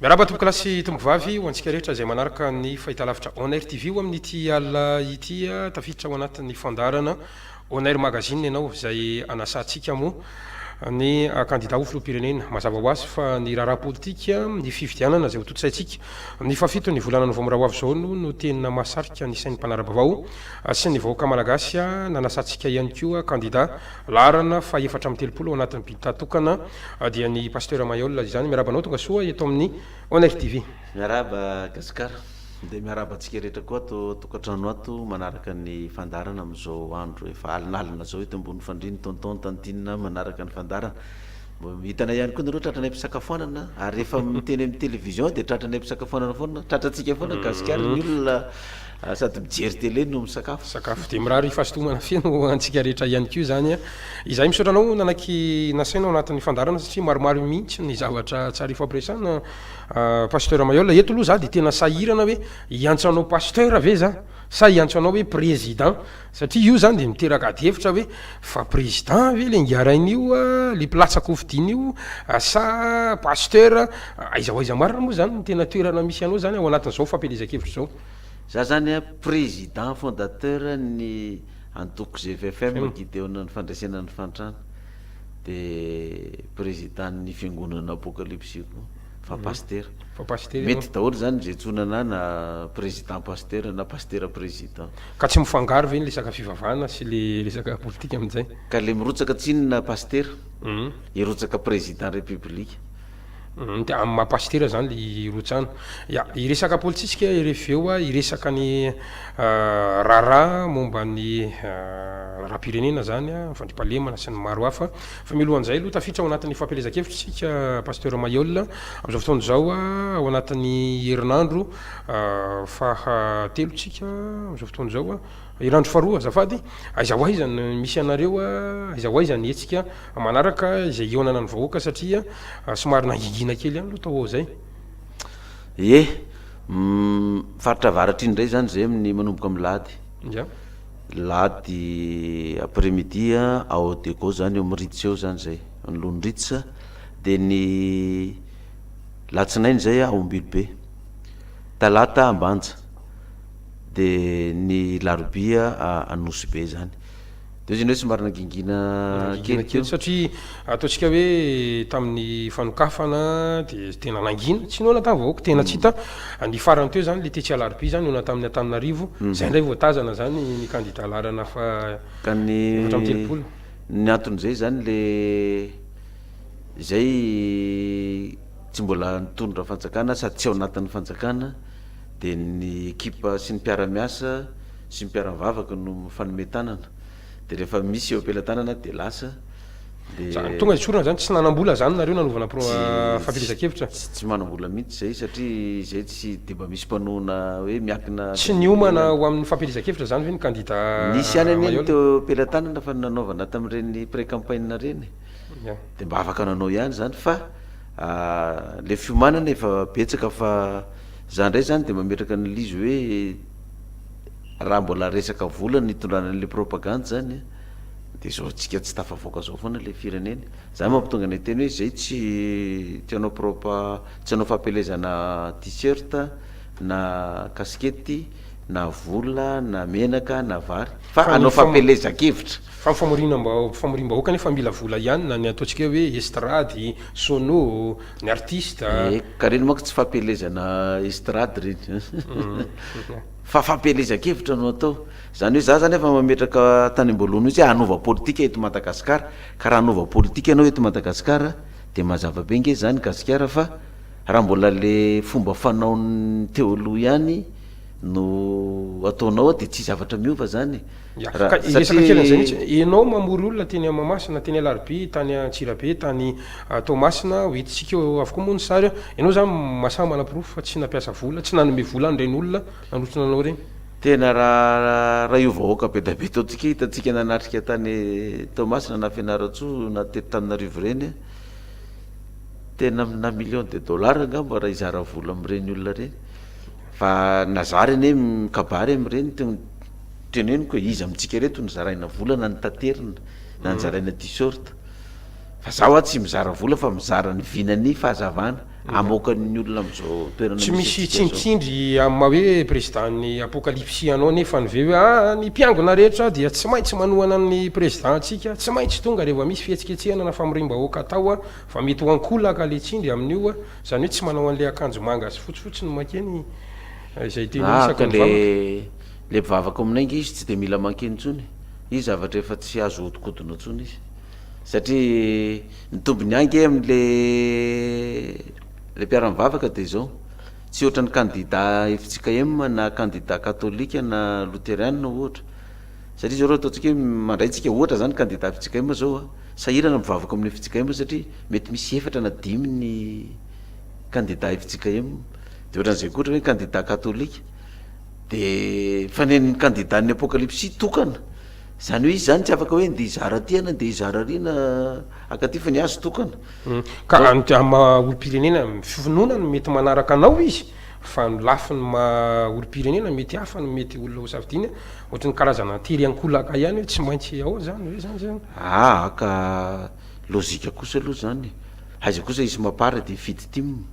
Miarahaba tompokolahy sy tompokovavy ho antsika rehetra izay manaraka ny fahitalavitra On Air TV o amin'ity alina ity tafiditra ao anatin'ny fandaharana On Air Magazine ianao izay anasantsika moa ny kandida ho filoham-pirenena mazava ho azy fa ny raharaha politika ny fifidianana izay ho tontosaintsika ny fahafito ny volana novambra ho avy izao no no tena mahasarika ny sain'ny mpanara-bavao sy ny vahoaka malagasy nanasantsika ihany koa kandida Laharana faha efatra amby telopolo ao anatin'ny Bita tokana dia ny Pasteur Maihol izany. Miarahaba anao tonga soa eto amin'ny On Air TV. Miarahaba Gasikara, dia miarahaba antsika rehetra koa ato an-tokantrano ato manaraka ny fandaharana amin'izao andro efa alinalina izao eto ambony fandrian'ny Tonton Tantine manaraka ny fandaharana. Hitanay ihany koa nareo tratranay mpisakafoanana ary rehefa miteny amin'ny télévision dia tratranay mpisakafoanana foana, tratratsika foana ny Gasikara, ny olona ah, sady mijery télé no misakafo. Sakafo dia mirary fahasotomana feno ho antsika rehetra ihany koa izany an. Izahay misaotra anao nanaiky nasaina ao anatin'ny fandaharana satria maromaro mihitsy ny zavatra tsara ifampiresahana ah, Pasteur Mayolle. Eto aloha za dia tena sahirana hoe hiantso anao Pasteur ve za sa hiantso anao hoe Président. Satria io zany dia miteraka adihevitra hoe fa président ve le nghiaraina io a, le mpilatsa kofidina io a sa pasteur a, aiza ho aiza marina moa zany ny tena toerana misy anao zany ao anatin'izao fampielezan-kevitra izao. Za zany a président fondateur ny antoko GVFM Gideona ny fandresena ny fahantrana, de président ny fiangonana Apocalypse koa. fa pasitera. Fa pasitera ianao. Mety daholo izany jejona na na président pasitera na pasitera président. Ka tsy mifangaro ve ny lesaka fivavahana sy le resaka politika amin'izay? Ka le mirotsaka tsinona pasitera hirotsaka président république. Dia amin'ny maha pasitera izany le hirotsahana. Ya, hiresaka politisika rfy eo hiresaka ny raharaha momba ny raharaham-pirenena izany, ny fandriampahalemana sy ny maro hafa. Fa mialohan'izay aloha tafiditra ao anatin'ny fampielezan-kevitra isika Pasteur Mailhol amin'izao fotoana izao ao anatin'ny herinandro faha telo tsika amin'izao fotoana izao, herinandro faha roa azafady, aiza ho aiza no misy anareo, aiza ho aiza ny hetsika manaraka izay hihaonana ny vahoaka satria somary nangingina kely ihany aloha tao ao izay. Ye, faritra avaratra iny indray izany izay amin'ny manomboka milady. Ya. Lahady après midi ao Dego zany eo amin'ny Ritz eo zany zay, anoloan'ny Ritz, dia ny latsinainy zay ao Ambilobe, talata Ambanja, dia ny larobia Anosibe zany, de ozy ianao hoe somary nangingina kely teo. Ataontsika hoe tamin'ny fanokafana dia tena nangina, tsy noana tamin'ny vahoaka, tena tsy hita. Ny farany teo izany, ilay tetsy Alarobia izany, noana tamin'ny Antananarivo. Izay indray vao tazana izany ny kandida laharana faha-efatra amby telopolo. Ny anton'izay izany ilay izay tsy mbola nitondra fanjakana sady tsy ao anatin'ny fanjakana dia ny ekipa sy ny mpiara-miasa sy ny mpiara-mivavaka no mifanome tanana. Dia rehefa misy eo am-pelatanana dia lasa dia. Izany tonga esorina izany tsy nanam-bola izany nareo nanovana pro fahafelezan-kevitra. Tsy tsy manam-bola mihitsy izay satria izay tsy dia mba misy mpanohana hoe miankina. Tsy niomana ho amin'ny fampielezan-kevitra izany ve ny kandida Maihol? Nisy ihany anie ny teo am-pelatanana fa ny nanaovana tamin'ireny pré campagne ireny dia mba afaka nanao ihany izany fa ilay fiomanana efa betsaka fa izaho indray izany dia mametraka an'il'izy hoe. Raha mbola resaka vola no hitondrana an'ilay propagandy zany a, de izao antsika tsy tafavoaka zao foana ilay firenena. Zany mampitonga ny hiteny hoe zay tsy tsy hanao propa, tsy hanao fampielezana t-shirt na kasikety na vola na menaka na vary fa Fa ny hanao fam- fampielezan-kevitra. Fa ny famorianam-bao- famoriam-bahoaka anefa mila vola ihany na ny ataontsika hoe estrady, sono, ny artista. Eka, reny manko tsy fampielezana estrady reny. Fa fampielezan-kevitra no atao. Izany hoe za zany efa mametraka tany amboalohany mihitsy hoe hanova politika eto Madagascar, ka raha hanova politika ianao eto Madagascar dia mazava be nge zany Gasikara fa raha mbola le fomba fanaon'ny teo aloha ihany no ataonao ao dia tsy zavatra miova zany e! Satria enao mamory olona teny Mahamasina, teny Alarobia, tany Antsirabe, tany Toamasina, ho hitantsika eo avokoa moa ny sary an! Enao zany masaha manaporofo fa tsy nampiasa vola, tsy nanome vola an'ireny olona nanotrona anao ireny. Tena raha io vahoaka be dia be ataontsika hitantsika nanatrika tany Toamasina na Fianarantsoa na teto Tananarivo ireny an! Tena amina millions de dollars angamba raha hizara vola amin'ireny olona ireny. Fa nazary anie mikabary amin'ireny teo teneniko e, iza amintsika ireto no zaraina vola na nitaterina na nizaraina t-shirt? Fa za hoa tsy mizara vola fa mizara ny vina ny fahazavana amoakan'ny olona amin'izao toerana misy antsika zao. Tsy misy tsindritsindry amin'ny maha hoe président ny apokalipsy anao anie fa ny ve hoe ah ny mpiangona rehetra dia tsy maintsy manohana ny président ntsika, tsy maintsy tonga rehefa misy fihetsiketsehana na famoriam-bahoaka atao fa mety ho ankolaka le tsindry amin'io. Zany hoe tsy manao anle akanjo manga sy fotsy fotsiny mankeny izay tena Na isaka ny le vavaka. le mpivavaka ao aminay nge izy tsy de mila mankeny tsony izy zavatra efa tsy azo hodikodina tsony izy satria ny tobiny any nge amle le mpiara mivavaka de zao tsy ohatran'ny kandida FJKM na kandida katolika na loterianina ohatra satria zao raha ataontsika hoe mandray tsika ohatra zany candidat Fitsigaima zao a, sahirana mivavaka amin'ny Fitsigaima satria mety misy efatra na dimy ny candidat Fitsigaim, de ohatran'izay koa ohatra hoe candidat katolika, de fa ny an'ny candidat ny apokalipsy tokana, zany hoe izy zany tsy afaka hoe ndeha hizara aty ianao ndeha hizara ary na haka aty fa ny azy tokana. Ka amin'ny maha olom-pirenena finoana no mety manaraka anao izy. Fa ny lafiny maha olom-pirenena mety hafa no mety olona ho safidiana, ohatry ny karazana tery ankolaka ihany hoe tsy maintsy ao zany ve zany zany? Aa ka lojika kosa aloha zany e! Aiza kosa hisy mapar dia hifidy tim?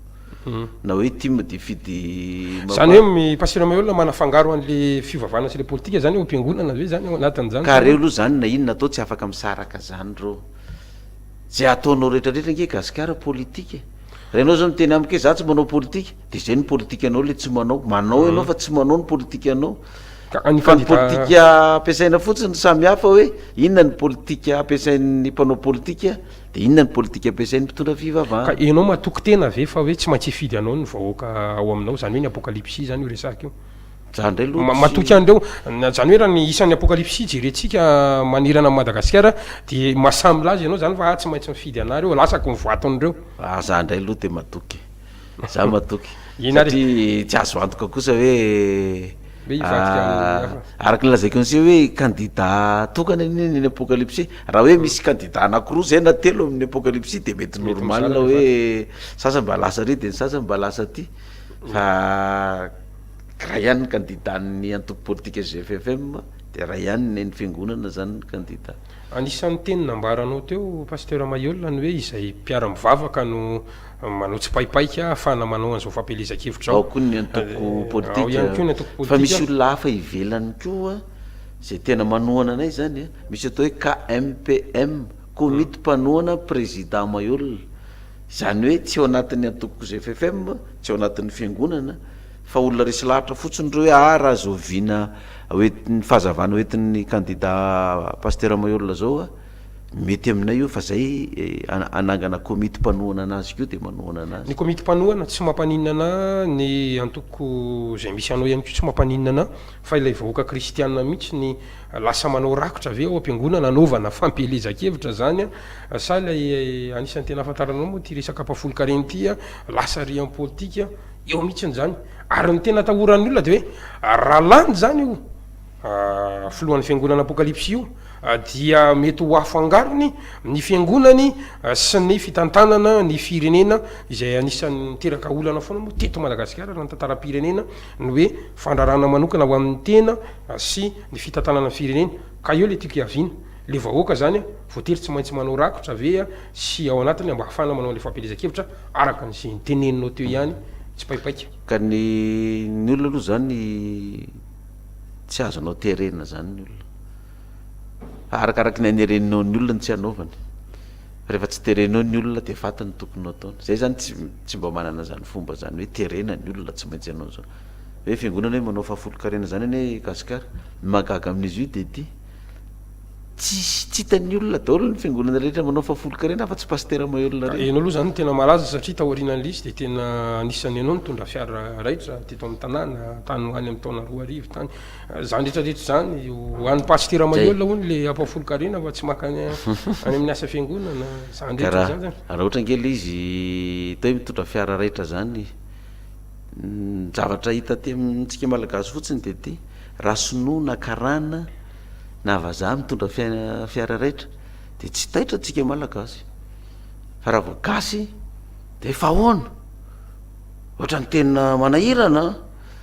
Na hoe tim dia hifidy mapar? Zany hoe mipasira mahay olona manafangaro an'le fivavahana sy le politika zany ao am-piangonana ve zany ao anatin'izany? Ka reo aloha zany na inona atao tsy afaka misaraka zany reo? Ze ataonao retraretra ange gasikara politika e! Raha ianao zao miteny amiko hoe za tsy manao politika, de zay ny politikanao le tsy manao, manao ianao fa tsy manao ny politikanao, Ka ny fa ny fandika- politika ampiasaina fotsiny samy hafa hoe inona ny politika ampiasain'ny mpanao politika de inona ny politika ampiasain'ny mpitondra Ka fivavahana. ianao matoky tena ve fa hoe tsy maintsy hifidy anao ny vahoaka ao aminao, zany hoe ny apokalipsy zany io resahiko io, Zany ndray loha tsy. Matoky an'ireo. Zany hoe raha ny isan'ny apokalipsy jerentsika manerana an'i Madagasikara dia mahasahy milaza ianao zany fa ah tsy maintsy mifidy anah reo, lasako ny voaton'ireo. Ah zah ndray loha dia matoky e. Zah matoky. Inona ary e? Satria tsy azo antoka kosa hoe Hoe hivadika amin'ny hafa. Araka ny lazaiko an'ise hoe kandida tokana anie ny an'ny apokalipsy. Raha hoe misy kandida anankiroa zay na telo amin'ny apokalipsy dia mety normal hoe sasany mba lasa ary dia ny sasany mba lasa aty fa. Iray ihany ny kandida ny antoko politika GFFM dia iray ihany ny an'ny fiangonana izany ny kandida. Anisan'ny teny nambaranao teo Pasteur Maihol ny hoe izay mpiara mivavaka no manao tsipaipaika ahafahana manao an'izao fampielezan-kevitra izao. Ao koa ny antoko politika. Ao ihany koa ny antoko politika. Fa misy olona hafa ivelany koa izay tena manohana anay izany a. Misy atao hoe KMPM, Komity Mpanohana Président Maihol. Izany hoe tsy ao anatin'ny antoko GFFM, tsy ao anatin'ny fiangonana. Fa olona resy lahatra fotsiny ireo hoe ah raha zoviana hoentin'ny fahazavana hoentin'ny kandida Pasitera Maheola zao a, mety aminay io fa zay hanangana komity mpanohana anazy koa dia manohana anazy. Ny komity mpanohana tsy mampaninona anahy, ny antoko izay misy anao ihany koa tsy mampaninona anahy, fa ilay vahoaka kristianina mihitsy ny lasa manao rakotra ve ao am-piangonana anaovana fampielezan-kevitra izany a? Sa ilay anisan'ny tena ahafantaranao moa ity resaka mpafolon-karena ity a, lasa riham-politika? Eo mihitsiny izany. Ary ny tena atahoran'ny olona dia hoe raha lany izany io filohan'ny fiangonana apokalypsy io dia mety ho afangarony ny fiangonany sy ny fitantanana ny firenena izay anisan'ny miteraka olana foana moa teto Madagasikara raha ny tantaram-pirenena ny hoe fandrarana manokana ho amin'ny tena sy ny fitantanana ny firenena ka eo ilay tiako hiaviana ilay vahoaka izany voatery tsy maintsy manao rakotra ve sy ao anatiny mba hahafahana manao ilay fampielezan-kevitra Araka ny izay niteneninao teo ihany, tsipaipaika. Ka ny ny olona aloha izany tsy azonao terena izany ny olona. Fa arakaraky ny hanerenao ny olona no tsy hanaovany. Fa rehefa tsy terenao ny olona dia faty ny tokony hataony. Izahay izany tsy tsy mba manana izany fomba izany hoe terena ny olona tsy maintsy hanao izao. Hoe fiangonana hoe manao fahafolonkarena izany anie i Gasikara. Ny mahagaga amin'izy io dia ity. Tsy tsy hitan'ny olona daholo ny fiangonana rehetra manao fahafolon-karena afa tsy Pasitera Maheulona reny. Ianao aloha izany no tena malaza satria tao aorianan'i Lisy dia tena anisan'ny ianao nitondra fiara raitra teto amin'ny tanàna tany ho any amin'ny taona roa arivo tany. Izany rehetrarehetra izany ho an'ny Pasitera Maheulona hono ilay hampahafolon-karena fa tsy mankany any amin'ny asa fiangonana. Izany Ka rehetra izany raha izany. raha ohatra ange ilay izy atao hoe mitondra fiara raitra izany, ny zavatra hita aty amintsika Malagasy fotsiny dia ity, raha sinoa na karana, na vazaha mitondra fiara raitra de tsy taitra antsika malagasy fa raha vao gasy de efa ahoana ohatrany tena manahirana an!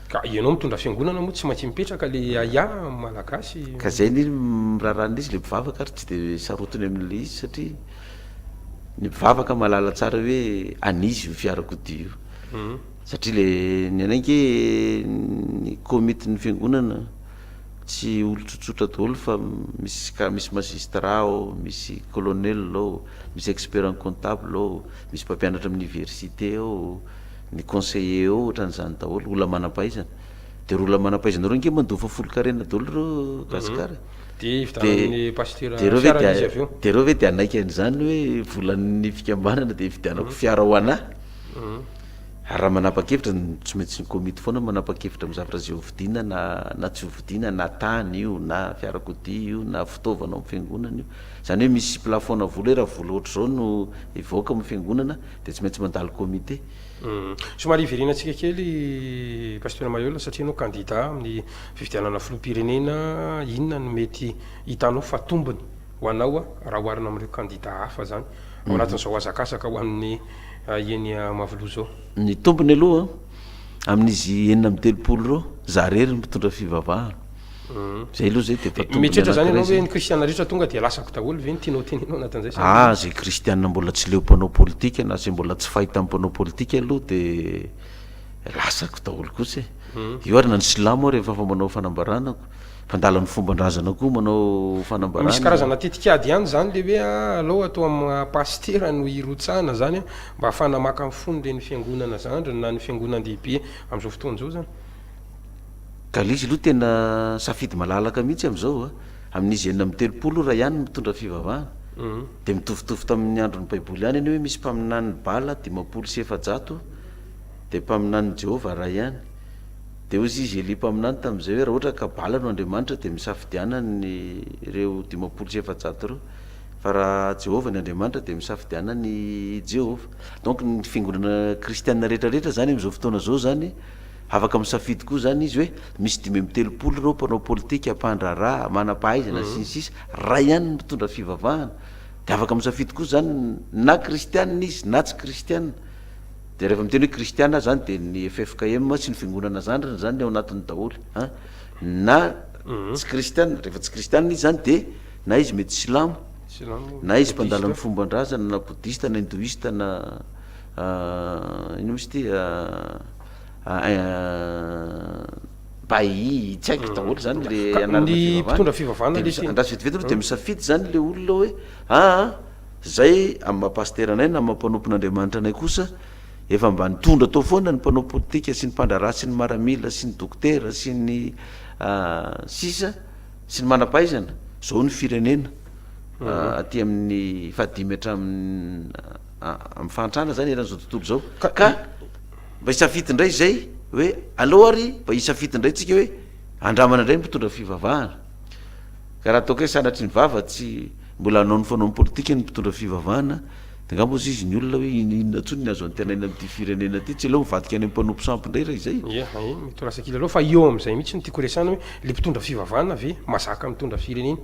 Ka ianao mitondra fiangonana moa tsy maintsy mipetraka le aia amin'ny malagasy? Ka zay ny miraharaha an'izy le mpivavaka ary tsy de sarotiny amin'le izy satria ny mpivavaka mahalala tsara hoe an'izy io fiarakodia io satria le ny anay nge ny komitin'ny fiangonana Tsy olon-tsotsotra daholo fa misy cas misy magistrat ao, misy colonel ao, misy expert en comptable ao, misy mpampianatra amin'ny université ao, ny conseiller ao ohatran'izany daholo, olona manam-pahaizana. Dia ireo olona manam-pahaizana ireo ange mandoa fa folon-karena daholo ireo Gasikara e! Dia hividianan'ny pasitera fiara izy avy eo? Dia ireo ve dia hanaiky an'izany hoe volan'ny fikambanana dia hividianako fiara ho an'ahy? Ary raha manapa-kevitra, tsy maintsy ny komity foana no manapa-kevitra amin'ny zavatra izay hovidiana na na tsy hovidiana, na tany io, na fiarakodia io, na fitaovana ao amin'ny fiangonana io. Izany hoe misy plafonà vola hoe raha vola ohatr'izao no hivoaka ao amin'ny fiangonana dia tsy maintsy mandalo komite. Somary hiverenantsika kely Pasitera Maheula satria ianao kandidà amin'ny fifidianana filoham-pirenena, inona no mety hitanao fa tombony ho anao raha oharina amin'ireo kandida hafa izany ao anatin'izao hazakazaka ho an'ny eny Mahaviloha izao? Ny tombony aloha, amin'izy enina amby telopolo ireo, izaho irery no mpitondra fivavahana. Izay aloha izay dia efa tombony anankiray izay. Mieritreritra izany ianao hoe ny kristiana rehetra tonga dia lasako daholo ve no tianao hotenenao anatin'izay sa ahoana? Aah, izay kristiana mbola tsy leo mpanao politika na izay mbola tsy fahita amin'ny mpanao politika aloha dia lasako daholo kosa e! Io ary na ny silamo ary efa manao fanambarana. Mpandala ny fomban-drazana koa manao fanambarana. Misy karazana tetikady ihany izany ilay hoe alao atao amin'ny maha pasitera no hirotsahana izany mba hahafahana maka ny fon'ireny fiangonana zandriny na ny fiangonan-dehibe amin'izao fotoana izao izany. Galizy aloha tena safidy malalaka mihitsy amin'izao a! Amin'izy enina amby telopolo ora ihany no mitondra fivavahana. Dia mitovitovy tamin'ny andron'ny Baiboly ihany anie hoe misy mpaminanin'i Bala dimampolo sy efajato dia mpaminanin'i Jehovah iray ihany. Dia hoy izy Elia mpaminany tamin'izay hoe, Raha ohatra ka bala no Andriamanitra, dia misafidianany ny ireo dimampolo sy efajato ireo, fa raha Jehovah ny Andriamanitra, dia misafidianany i Jehovah. Donc ny fiangonana kristiana rehetra rehetra izany amin'izao fotoana izao izany afaka misafidy koa izany izy hoe misy dimy amby telopolo ireo mpanao politika, mpandraharaha, manam-pahaizana, sy ny sisa Raha ihany ny mitondra fivavahana, dia afaka misafidy koa izany na kristiana izy na tsy kristiana, Dia rehefa miteny hoe kristiana zany dia ny ffkm sy ny fiangonana zandriny zany ny ao anatiny daholo an! na tsy kristiana, rehefa tsy kristiana izy zany dia na izy mety silamo, Silamo, na izy mpandala ny bodista. fomban-drazana na bodista na hindoista na inona moa izy ity bahiy, tsy haiko daholo zany le Ka ny anarana mpitondra fivavahana, fivavahana dia aloha mis- ity. andraso vetivety aloha dia misafidy zany le olona hoe aa. Izay amin'ny maha pasitera anay na maha mpanompon'Andriamanitra anay kosa, efa mba nitondra tao foana ny mpanao politika sy ny mpandraharaha sy ny maramila sy ny dokotera sy ny sisa sy ny manam-pahaizana, izao ny firenena aty amin'ny fahadimy hatramin'ny fahantrana izany eran'izao tontolo izao, ka mba hisafidy indray izay hoe aleo ary mba hisafidy indray tsika hoe andramana indray ny mpitondra fivavahana. Ka raha toa ka hoe sanatry ny vava tsy mbola hanao ny fanaony politika ny mpitondra fivavahana dia angamba hozy izy ny olona hoe in- inona intsony ny azo antenaina amin'ity firenena ity, tsy aleo mivadika any amin'ny mpanompo sampy indray raha izay e! Ie, ae, mety ho lasa kilalao fa eo amin'izay mihitsy no tiako resahana hoe le mpitondra fivavahana ve mazaka mitondra firenena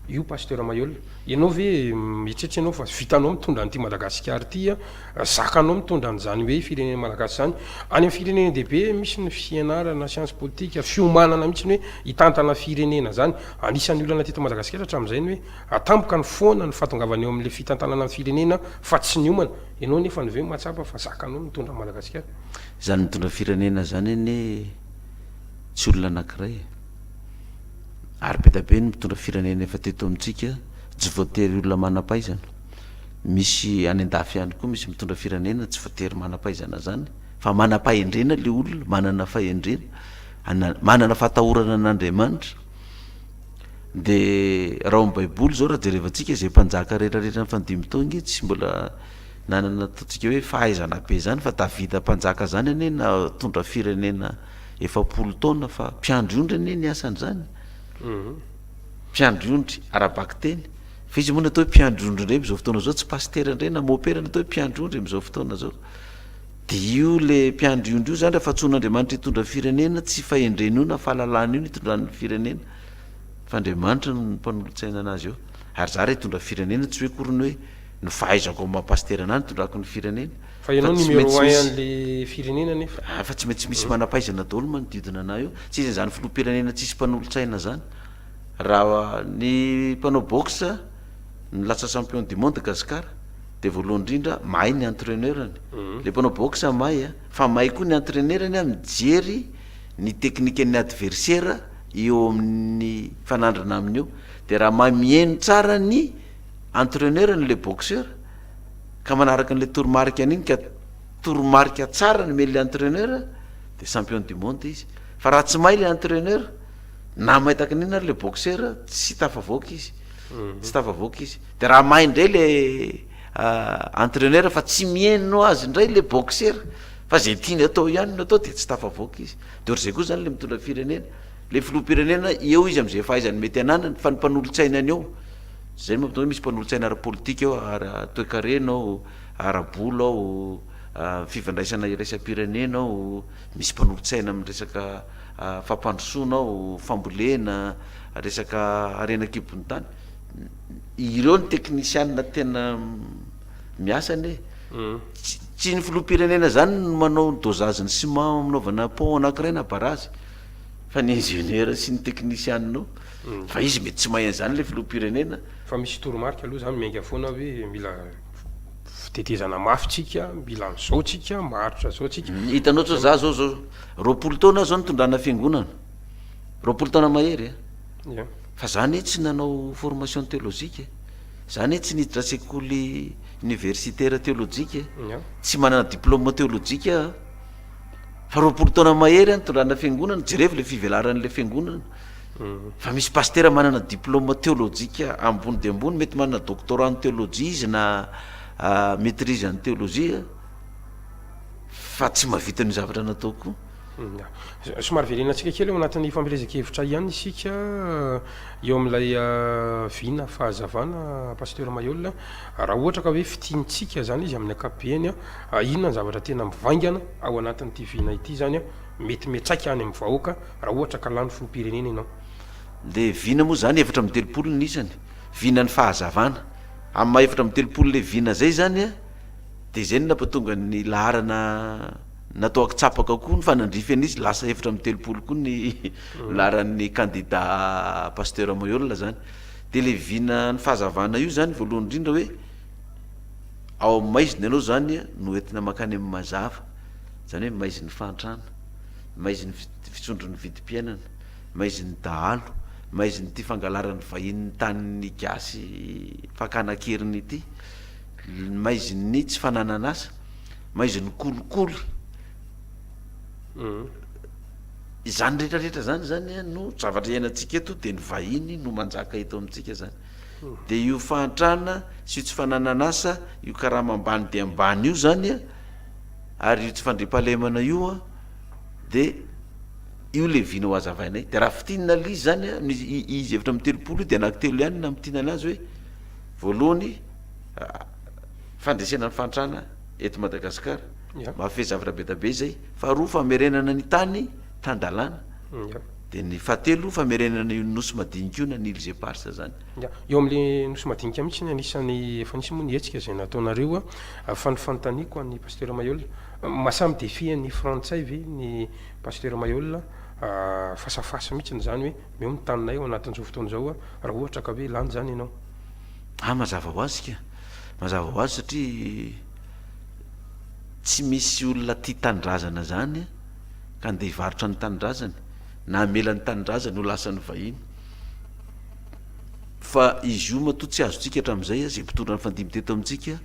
io Pasteur Maihol? Ianao ve mieritreritra ianao fa vitanao mitondra an'ity Madagasikara ity an? Zakanao mitondra an'izany hoe firenena malagasy izany. Any amin'ny firenena dehibe misy ny fianarana siansa politika, fiomanana mihitsy ny hoe hitantana firenena izany. Anisan'ny olana teto Madagasikara hatramin'izay ny hoe atampoka ny foana ny fahatongavana eo amin'ilay fitantanana ny firenena fa tsy niomana. Ianao anefa ny ve mahatsapa fa zakanao ny mitondra an'i Madagasikara? Izany mitondra firenena izany anie tsy olona anankiray e! Ary be dia be ny mitondra firenena efa teto amintsika tsy voatery olona manam-pahaizana. Misy any an-dafy ihany koa misy mitondra firenena tsy voatery manam-pahaizana zany fa manam-pahendrena le olona, manana fahendrena, ana- manana fahatahorana an'Andriamanitra. De raha ao amin'ny baiboly zao raha jerevantsika izay mpanjaka rehetra rehetra ny fanodimy taona io tsy mbola nanana ataontsika hoe fahaizana be zany fa Davida mpanjaka zany anie natondra firenena efapolo taona fa mpiandry ondry anie ny asany zany, mpiandry ondry ara-bakiteny. Fa izy moa ny atao hoe mpiandry ondry indray amin'izao fotoana izao tsy pasitera indray na mopera ny atao hoe mpiandry ondry amin'izao fotoana izao. Dia io le mpiandry ondry io izany raha fatsoan'Andriamanitra hitondra firenena tsy fahendreny io na fahalalany io ny hitondran'ny firenena fa Andriamanitra no mpanolotsaina anazy eo. Ary za raha hitondra firenena tsy hoe akory ny hoe ny fahaizako amin'ny maha pasitera anahy no hitondrako ny firenena Fa ianao tsy maintsy numéro un misy an'le firenena nefa. Ah fa tsy maintsy misy manampahaizana daholo manodidina anah eo, tsy izy izany filoham-pirenena tsisy mpanolotsaina zany. Raha ny mpanao boxe no lasa champion du monde Gasikara dia voalohany indrindra mahay ny entraineur-ny. Ilay mpanao boxe mahay an, fa mahay koa ny entraineur-ny an mijery ny teknikan'ny adversaire eo amin'ny mifanandrina aminy eo. Dia raha mahay mihaino tsara ny entraineur-ny ilay boxeur ka manaraka an'ilay toromarikany iny ka toromarika tsara nomen'ilay entraineur dia champion du monde izy. Fa raha tsy mahay ilay entraineur, Na may tahaka n'inona ary le boxeur tsy tafavoaka izy. Tsy tafavoaka izy. Dia raha may indray le entraineur fa tsy mihaino azy indray le boxeur fa izay tiany atao ihany no atao dia tsy tafavoaka izy. Dia ohatr'izay koa izany le mitondra firenena. Le filoham-pirenena eo izy amin'izay fahaizany mety ananany fa ny mpanolotsaina ny eo, izay no mahatonga hoe misy mpanolotsaina ara-politika ao, ara-toekarena ao, ara-bola ao, fifandraisana iraisam-pirenena ao. Misy mpanolotsaina amin'ny resaka fampandrosoana ao, fambolena, resaka harena an-kibon'ny tany. Ireo ny teknisianina tena miasa anie e! Tsy ny filoham-pirenena izany no manao ny dosage ny ciment aminaovana pont anankiray na barazy fa ny ingénieur sy ny teknisianina ao. Fa izy mety tsy mahay an'izany ilay filoham-pirenena. Fa misy toromarika aloha izany miainga foana hoe mila. Fitetezana mafy tsika mila an'izao tsika maharitra zao tsika. Hitanao zao za zao zao roapolo taona aho zao nitondrana fiangonana roapolo taona mahery a. Ie. Fa za anie tsy nanao formation theologique e, za anie tsy niditra sekoly universitaire theologique e, Ie. tsy manana diplôme theologique aho a, fa roapolo taona mahery aho nitondrana fiangonana, jerevo le fivelaran'le fiangonana. Fa misy pasitera manana diplôme teolojika ambony dia ambony, mety manana doctorat en théologie izy na maîtrise en théologie fa tsy mahavita ny zavatra nataoko. Hmm. Somary velena antsika kely ao anatin'ny fampielezan-kevitra ihany isika eh, eo amin'ilay eh, vina fahazavana pasteur Mayolle raha ohatra ka hoe fitiantsika zany izy amin'ny ankapobeny eh, inona ny zavatra tena mivaingana ao anatin'ity vina ity zany eh, Mety miantraika any amin'ny vahoaka raha ohatra ka lany filoham-pirenena ianao. Le vina moa zany efatra amby telopolo ny isany, vinan'ny fahazavana, amin'ny maha efatra amby telopolo le vina zay zany a, de zay no napatonga ny laharana natao akitsapaka koa ny fanandrify an'izy lasa efatra amby telopolo koa ny laharan'ny kandida Pasteur Moyola zany, de le vinan'ny fahazavana io zany voalohany indrindra hoe ao amin'ny maizina ianao zany no entina makany amin'ny mazava, izany hoe maizin'ny fahantrana, maizin'ny fisondron'ny vidim-piainana, maizin'ny dahalo, maizin'ity fangalaran'ny vahiny ny tanin'ny gasy fakana an-keriny ity, maizin'ny tsy fananan'asa, maizin'ny kolikoly, izany rehetra rehetra izany zany a no zavatra iainantsika eto dia ny vahiny no manjaka eto amintsika zany, dia io fahantrana sy io tsy fananan'asa io karama ambany dia ambany io zany a. Ary io tsy fandriampahalemana io an de io le vina ho azavainay de raha fitin na lzy zany an ny izy efatra amby telopolo io de anaky telo ihany na mitin anazy hoe voalohany fandresena ny fahantrana eto Madagascar mafia zavatra be da be zay faharoa famerenana ny tany tan-dalàna de ny fahatelo famerenana io nosy madinika io na ny îles éparses zany. Eo amin'ilay Nosy madinika mihitsy ny anisan'ny efa nisy moa ny hetsika izay nataonareo a. Fa ny fanontaniako an'i Pasteur Maihol, masamy défi an'ny frantsay ve ny Pasteur Maihol a, face à face mihitsy izany hoe omeo ny taninay ao anatin'izao fotoana izao a, raha ohatra ka hoe lany izany ianao. Ah mazava ho azy ka! Mazava ho azy satria tsy misy olona tia tanindrazana izany ka andeha hivarotra ny tanindrazany na hamela ny tanindrazany ho lasan'ny vahiny. fa izy io matoa tsy azontsika hatramin'izay, izay mpitondra ny fandimby teto amintsika,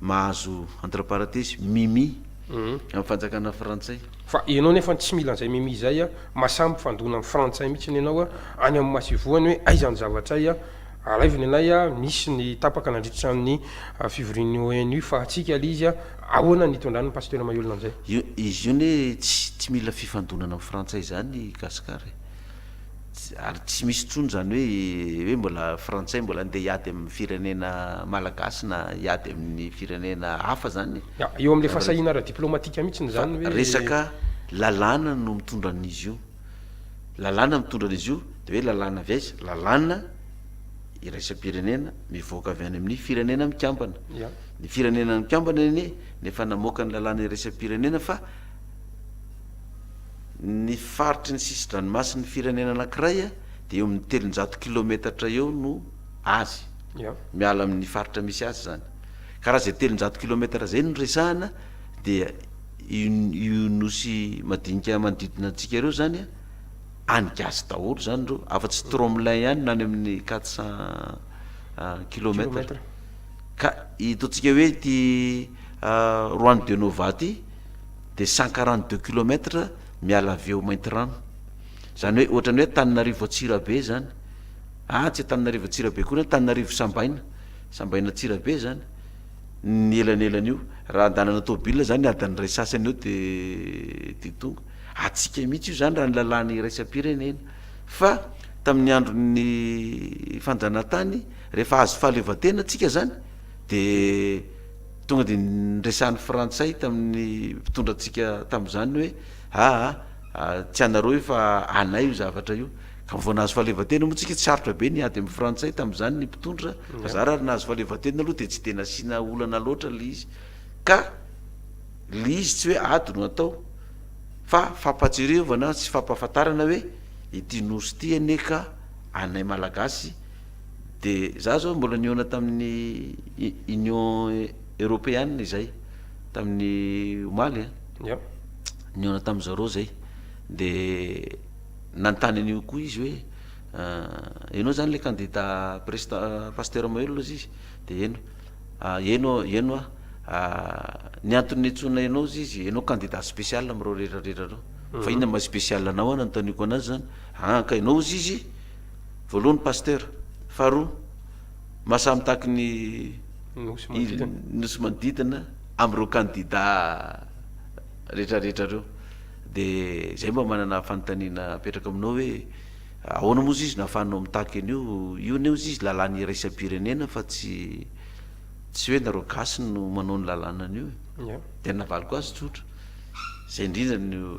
mahazo entre parenthèses Mimi amin'ny fanjakana frantsay. Fa ianao nefa tsy mila an'izay Mimi izay a, masaha mifandona amin'ny frantsay mihitsiny ianao a, any amin'ny masoivohony hoe aiza ny zavatray a, alaiviny anay a, nisy ny tapaka nandritra ny fivorian'ny ONU fa antsika aloha izy a, ahoana ny hitondrany ny pasteur mailona an'izay? Izy io anie tsy mila fifandonana amin'ny frantsay izany i Gascar e. Tsy ary tsy misy intsony izany hoe hoe mbola frantsay mbola andeha hiady amin'ny firenena malagasy na hiady amin'ny firenena hafa izany e. Ah, eo amin'ilay fahasahiana ara-diplaomatika mihitsy ny izany hoe. Fa resaka lalàna no mitondra an'izy io. Lalàna mitondra an'izy io, dia hoe lalàna avy aiza? Lalàna iraisam-pirenena mivoaka avy any amin'ny firenena mikambana. Ya. Ny firenena mikambana anie no efa namoaka ny lalàna iraisam-pirenena fa. ny faritry ny sisin-dranomasin'ny firenena anankiray dia eo amin'ny telonjato kilometatra eo no azy, miala amin'ny faritra misy azy izany, ka raha izay telonjato kilometatra izay no resahana dia io nosy madinika manodidina antsika ireo izany an, any gasy daholo izany ireo, afa-tsy Tromelin ihany no any amin'ny quatre cent kilometatra, ka ito antsika hoe ity Juan de Nova ity, dia cent quarante deux kilomètre miala avy eo Maintirano, zany hoe ohatran'ny hoe Antananarivo Antsirabe zany, ah tsy Antananarivo Antsirabe akory, Antananarivo Sambaina, Sambaina Antsirabe zany ny elanelan'io, raha an-dalana tômôbila zany adiny iray sasany eo de de tonga, antsika mihitsy io zany raha ny lalàna iraisam-pirenena, fa tamin'ny andron'ny fanjanahantany rehefa azo fahaleovantena tsika zany de. Tonga dia niresahan'ny Frantsay tamin'ny mpitondra antsika tamin'izany ny hoe, aa, tsy anareo io fa anay io zavatra io. Ka vao nahazo fahaleovantena moa tsika tsy sarotra be ny ady amin'ny Frantsay tamin'izany ny mpitondra, fa za raha nahazo fahaleovantena aloha dia tsy dia nasiana olana loatra ilay izy. Ka ilay izy tsy hoe ady no atao fa fampahatsiarevana sy fampahafantarana hoe ity Nosy ity anie ka anay Malagasy, Dia za zao mbola nihaona tamin'ny Union Europeana izay tamin'ny omaly a. Yep. Nihaona tamin'ny zareo zay. Dia nanontany an'io koa izy hoe ianao zany le candidat presita- Pasteur Mahelola hozy izy dia eny eny aho eny hoa ny antony niantsoana ianao hozy izy ianao candidat special amin'ireo rehetra rehetra ireo fa inona maha special anao hoa nanontaniako anazy zany an ka ianao hozy izy voalohany Pasteur, faharoa mahasaha mitaky ny Nosy manodidina amin'ireo kandida retraretra ireo, de zay mba manana fanontaniana apetrako aminao hoe ahoana moa ziz no ahafahanao mitaky an'io, io anie ziz lalàna iraisam-pirenena fa tsy tsy hoe nareo gasy no manao ny lalàna an'io e, de ny navaliko azy tsotra, zay indrindra no.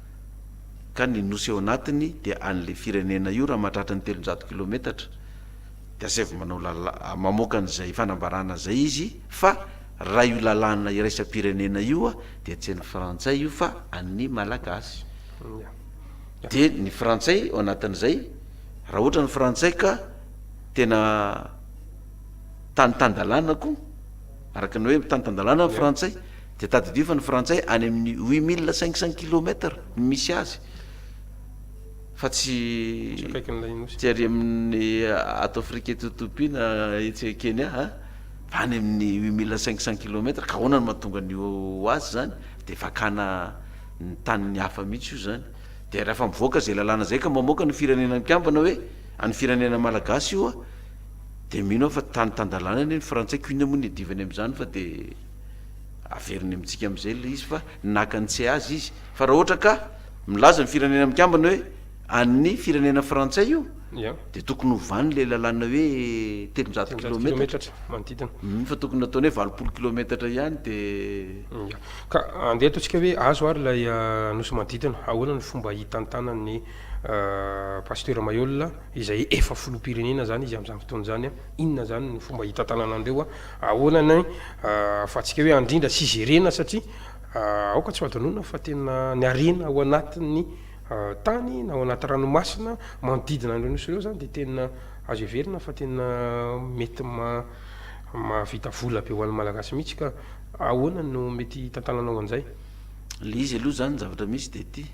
ka ny nosy ao anatiny dia anle firenena io raha mahatratra ny telonjato kilometatra de asaivo manao lala mamoaka an'izay fanambarana zay izy fa raha io lalàna iraisam-pirenena io a dia tsy an'ny frantsay io fa an'ny malagasy de ny frantsay ao anatin'izay raha ohatra ny frantsay ka tena tany tan-dalàna koa araka ny hoe tany tan-dalàna ny frantsay dia tadidio fa ny frantsay any amin'ny huit mille cinq cents kilomètres no misy azy fa tsy tsy ary amin'ny ato afrika eto etopia na etsy kenya a fa any amin'ny huit mille cinq cents kilomètres ka ahoana no mahatonga ny ho azy zany de fakana ny tanin'ny hafa mihitsy io zany de raha efa mivoaka zay lalàna zay ka mamoaka ny firenena mikambana hoe an'ny firenena malagasy io a de mino aho fa tany tan-dalàna anie ny frantsay ko inona moa ny iadivany am'zany fa de Averiny amintsika amin'izay ilay izy fa naka ny tsy azy izy. Fa raha ohatra ka milaza ny firenena mikambana hoe an'ny firenena frantsay io dia tokony hovany ilay lalàna hoe telonjato kilometatra manodidina. Hum, fa tokony nataony hoe valopolo kilometatra ihany dia. Ka andeha ataontsika hoe azo ary ilay nosy manodidina. Ahoana no fomba hitantanan'ny Pasitera Mayolle izay efa filoham-pirenena izany izy amin'izany fotoana izany? Inona izany no fomba hitantanana an'ireo? Ahoana ny ahafahantsika hoe handrindra sy hijerena satria aoka tsy ho hadinoina fa tena ny harena ao anatin'ny tany na ao anaty ranomasina manodidina an'ireo nosy ireo izany dia tena azo heverina fa tena mety mahavita vola be ho an'ny Malagasy mihitsy ka ahoana no mety hitantananao an'izay? Ilay izy aloha izany ny zavatra misy dia ity,